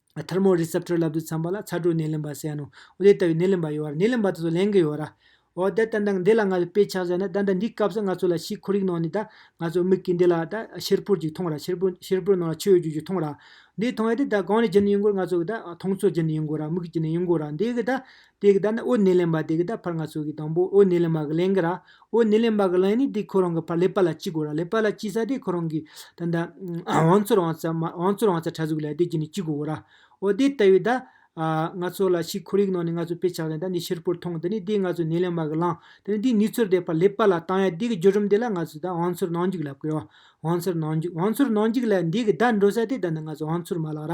Thermo Receptor ལབ་ཏུ་འཚམ་པ་ལ་ཚ་དྲོད་སྣེ་ལེན་པ་ཟེར་ཡ་ནོ། འོ་དེ་ལྟ་བུའི་སྣེ་ལེན་པ་ཡོད་ར་སྣེ་ལེན་པ་དེ་ཚོ་ལེན་གི་ཡོད་ར། འོ་ད་ད་འདི་ལ་ང་ཚོས་དཔེ་ཆགས་བྱས་ན་ད་འདི་འདིའི་སྐབས་སུ་ང་ཚོ་ལ་ཕྱིའི་ཁོར་ཡུག་ནང་ནས་ད་ང་ཚོ་མིག་གིས་འདི་ལ་ད་ཤེར་ཕུར་ཅིག་མཐོང་ར་ཤེར་ཕུར་ཤེར་ཕུར་ནང་ལ་ཆུ་ཡོད་རྒྱུ་ཞིག་མཐོང་ར། འདི་མཐོང་ཡ་དེ་ད་གང་ནས་གྱི་ནས་ཡིན་དགོས་ང་ཚོ་གི་ད་མཐོང་ཚོད་ཀྱི་ནས་ཡིན་དགོས་ར་མིག་གི་ནས་ཡིན་དགོས་ར་འདི་གི་ད་དེ་གི་བརྡ་ནི་འོད་གནས་ལེན་པ་དེ་གི་བརྡ་ཕར་ང་ཚོ་གི་དང་པོ་འོད་གནས་ལེན་པ་གི་ལན་གི་ར། འོད་གནས་ལེན་པ་གི་ལན་ནི་དེ་ཁོ་རང་གི་ཕར་ལེ་པ་ལ་གཅིག་གོ་ར་ལེ་པ་ལ་གཅིག་ས་དེ་ཁོ་རང་གི། ད་ནི། བང་ཚོར་བང་ཚ་མ་བང་ཚོར་བང་ཚ་ཕྲ་གཟུགས་ལས་དེ་གི་ནི་གཅིག་གོ་གོ་ར། འོ་དེ་ལྟ་བུའི་བརྡ། ང་ཚོ་ལ་ཕྱིའི་ཁོར་ཡུག་ནང་ནས་ང་ཚོ་དཔེ་ཆགས་ལེན་ད་ནི་ཕྱིར་པོར་མཐོང་དེ་ནི་དེ་ང་ཚོ་གནས་ལེན་པ་གི་ལང་དེ་ནི་དེ་ནུས་ཚོར་དེ་ཕར་ལེ་པ་ལ་བཏང་ཡ་དེ་གི་འགྱུར་རིམ་དེ་ལ་ང་ཚོས་ད་བང་ཚོར་ནང་འཇུག་ལབ་ཀི་ཡོ། བང་ཚོར་ནང་འཇུག་བང་ཚོར་ནང་འཇུག་ལས་འདི་གི་བརྡ་འགྲོ་ས་དེ་ད་ནི་ང་ཚོ་བང་ཚོར་མ་ལགས་ར།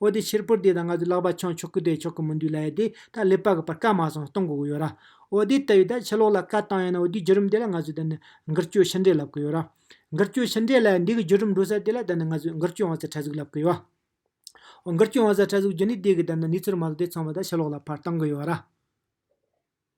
འོ་དེ་ཕྱིར་པུར་དེ་དང་ང་ཚོས་ལག་པ་འཆང་ཆོག་གི་རེད་ཆོག་གི་མི་འདུག་ལ་ཡ་དེ་ད་ལེ་པ་གི་པར་སྐད་མ་གསུངས་གཏོང་དགོས་ཀྱི་ཡོད་ར། འོ་དེ་ལྟ་བུའི་ད་ཕྱི་ལོག་ལ་བཀའ་བཏང་ཡང་ན་འོ་དེའི་བརྒྱུད་རིམ་དེ་ལ་ང་ཚོས་ད་ནི་འགུལ་སྐྱོད་ཕྱི་འབྲེལ་ལབ་ཀྱི་ཡོད་ར། འགུལ་སྐྱོད་ཕྱི་འབྲེལ་ལ་འདི་གི་བརྒྱུད་རིམ་འགྲོ་ས་དེ་ལ་ད་ནི་ང་ཚོས་འགུལ་སྐྱོད་དབང་ཚད་ཕྲ་གཟུགས་ལབ་ཀྱི་ཡོད། འོ་འགུལ་སྐྱོད་དབང་ཚད་ཕྲ་གཟུགས་བརྒྱུད་ནས་དེ་གི་ད་ནི་ནུས་ཚོད་མ་གཏོགས་དེ་ཚང་མ་ད་ཕྱི་ལོག་ལ་པར་བཏང་གི་ཡོད་ར།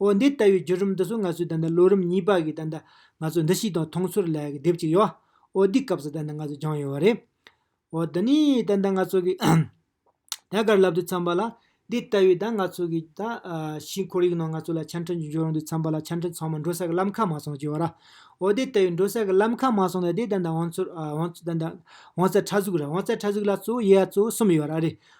འོ་འདི་ལྟ་བུའི་བརྒྱུད་རིམ་འདི་ཚོ་ང་ཚོའི་ད་ནི་ལོ་རིམ་གཉིས་པ་གི་ད་ནི་ང་ཚོ་འདི་ཞིག་དང་མཐོང་ཚོར་ལ་གི་དེབ་ཅིག་ཡོད། འོ་འདི་སྐབས་སུ་ད་ནི་ང་ཚོ་སྦྱངས་ཡོད་བ་རེད། འོ་འདི་ནི་ད་ནི་ང་ཚོ་གི་ཐད་ཀར་ལབ་དུས་འཚམས་པ་ལ། འདི་ལྟ་བུའི་ད་ང་ཚོ་གི་ད་ཕྱིའི་ཁོར་ཡུག་ནང་ང་ཚོ་ལ་ཆ་འཕྲིན་གྱི་འབྱོར་འོང་དུས་འཚམས་པ་ལ་ཆ་འཕྲིན་ཚང་མ་འགྲོ་ས་གི་ལམ་ཁ་མ་སོང་ཅེས་བ་ར། འོ་འདི་ལྟ་བུའི་འགྲོ་ས་གི་ལམ་ཁ་མ་སོང་ན་དེ་ད་ནི་འོང་ཚོར་འོང་ཚོར་ད་ནི་འོང་ཚད་ཕྲ་གཟུགས་ར་འོང་ཚད་ཕྲ་གཟུགས་ལ་གཙོ་བོ་དབྱེ་བ་གཙོ་བོ་གསུམ་ཡོད་བ་ར་རེད།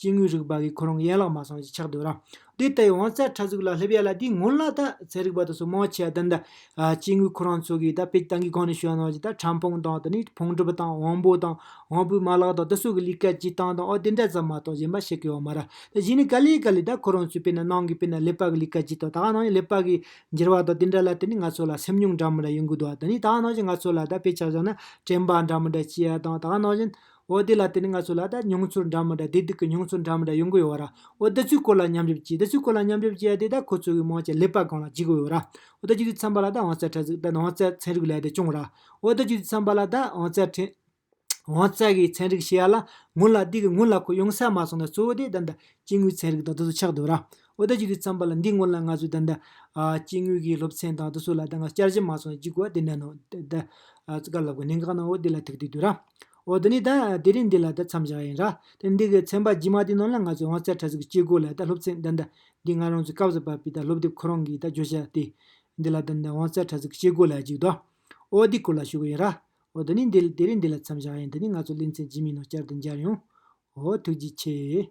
སྐྱེ་དངོས་རིག་པ་གིས་ཁོ་རང་གི་ཡན་ལག་མ་སངས་ཞེས་ཆགས་སྡོད་རང་སྡེ་ལྟ་བུའི་དབང་རྩ་ཕྲ་གཟུགས་ལ་སླེབས་ཡ་ལ་དེའི་སྔོན་ལ་ད་ཚད་རིག་པ་དང་སོ་མང་ཆེ་བ་འདི་འདྲ་སྐྱེ་དངོས་ཁོ་རང་ཚོ་གིས་ད་དཔེ་སྟངས་ཀྱི་སྒང་ནས་ཤོད་ན་ཅིག་ད་ཕྲན་ཕུང་དང་དེ་ནས་ཕུང་གྲུབ་དང་དབང་པོ་དང་དབང་པོའི་མ་ལག་དང་དེ་སོགས་ཀྱི་ལུས་ཀ་སྤྱི་སྟངས་དང་ཨོ་དེ་འདྲ་ཙམ་མ་གཏོགས་གཞན་པ་བཤད་ཀྱི་ཡོད་མ་རེད་ད་གཞི་ནས་ག་ལེ་ག་ལེ་ད་ཁོ་རང་ཚོའི་དཔེར་ན་ནང་གི་དཔེར་ན་ཀླད་པ་གི་ལུས་ཀ་སྤྱི་དང་ད་ག་ནང་གི་ཀླད་པ་གི་འགྱུར་བ་དང་དེ་འདྲ་ལ་དེ་ནི་ང་ཚོ་ལ་སེམས་མྱོང་འདྲ་མི་འདྲ་ཡོང་གི་འདུག་དེ་ནི་ད་ག་ནང་བཞིན་ང་ཚོ་ལ་ད་དཔེ་ཆ་བཞག་ན་དྲན་པ་འདྲ་མི་འདྲ་སྐྱེ་ཡ་དང་ད་ག་ནང་བཞིན་འོ་དེ་ལ་དེ་ནི་ང་ཚོ་ལ་ད་མྱོང་ཚོར་འདྲ་མི་འདྲ་བདེ་སྡུག་གི་མྱོང་ཚོར་འདྲ་མི་འདྲ་ཡོང་གི་ཡོད་ར། འོ་དེ་ཚོའི་སྐོར་ལ་མཉམ་འཇོག་གྱིས་དེ་ཚོའི་སྐོར་ལ་མཉམ་འཇོག་བྱས་ཏེ་ད་ཁོ་ཚོ་གི་མང་ཆེ་ལེགས་པ་གང་ལ་བྱེད་གི་ཡོད་ར། འོ་ད་ཁྱོད་ཀྱི་འཚམས་པ་ལ་ད་བང་རྩལ་ཕྲ་ཚིག་ད་ནང་བང་རྩལ་ཚན་རིག་ལས་དེ་སྐྱོང་ར། འོ་ད་ཁྱོད་ཀྱི་འཚམས་པ་ལ་ད་བང་རྩལ་ཕྲན། བང་རྩལ་གྱི་ཚན་རིག་ཞེས་ཡ་ལ་ངོ་ལ་དེ་གི་ངོ་ལ་ཁོ་ཡོང་ས་མ་སོང་ན་གཙོ་བོ་དེ་ད་ད་སྐྱེ་དངོས་ཚན་རིག་དང་དེ་ཚོ་ཆགས་འདུག་ར། འོ་ད་ཁྱོད་ཀྱི་འཚམས་པ་ལ་འདིའི་སྔོན་ལ་ང་ཚོས་ད་ད། སྐྱེ་དངོས་ཀྱི་སློབ་ཚན་དང་དེ་ཚོ་ལ་ད་ང་བསྐྱར་ཞིབ་མ་སོང་ན་ཅི་གོ་བ་དེ་ནས་ནང་ད་ད། སྐར་ལབ་གི་གནད་འགག་ནང་འོ་དེ་ལ་ཐུག་དུས་དུས་ར། འོ་དེ་ནས་ད་དེ་རིང་འདི་ལ་ད་མཚམས་བཞག་ཡིན་ར། དེ་འདི་གི་ཚན་པ་རྗེས་མ་དེ་ནང་ལ་ང་ཚོ་དབང་རྩའི་གྲ་ཟུག་གི་སྐྱེ་དགུ་ལ་ད་སློབ་ཚན་འདི་འདྲ་འདི་ང་རང་ཚོའི་སྐབས་སུ་བབས་པའི་ད་སློབ་དེབ་ཁོ་རང་གིས་ད་བརྗོད་བྱ་དེ། འདི་ལ་ད་འདི་དབང་རྩའི་གྲ་ཟུག་གི་སྐྱེ་དགུ་ལ་གཅིག་ཏུ། འོ་དེ་སྐོར་ལ་ཞུ་གི་ཡིན་ར། འོ་དེ་ནས་འདི་དེ་རིང་འདི་ལ་མཚམས་བཞག་ཡིན་དེ་ནས་ང་ཚོ་གླིང་ཚའི་རྗེས་མའི་ནང་བསྐྱར་དུ་མཇལ་ཡོང། འོ་ཐུགས་རྗེ་ཆེ།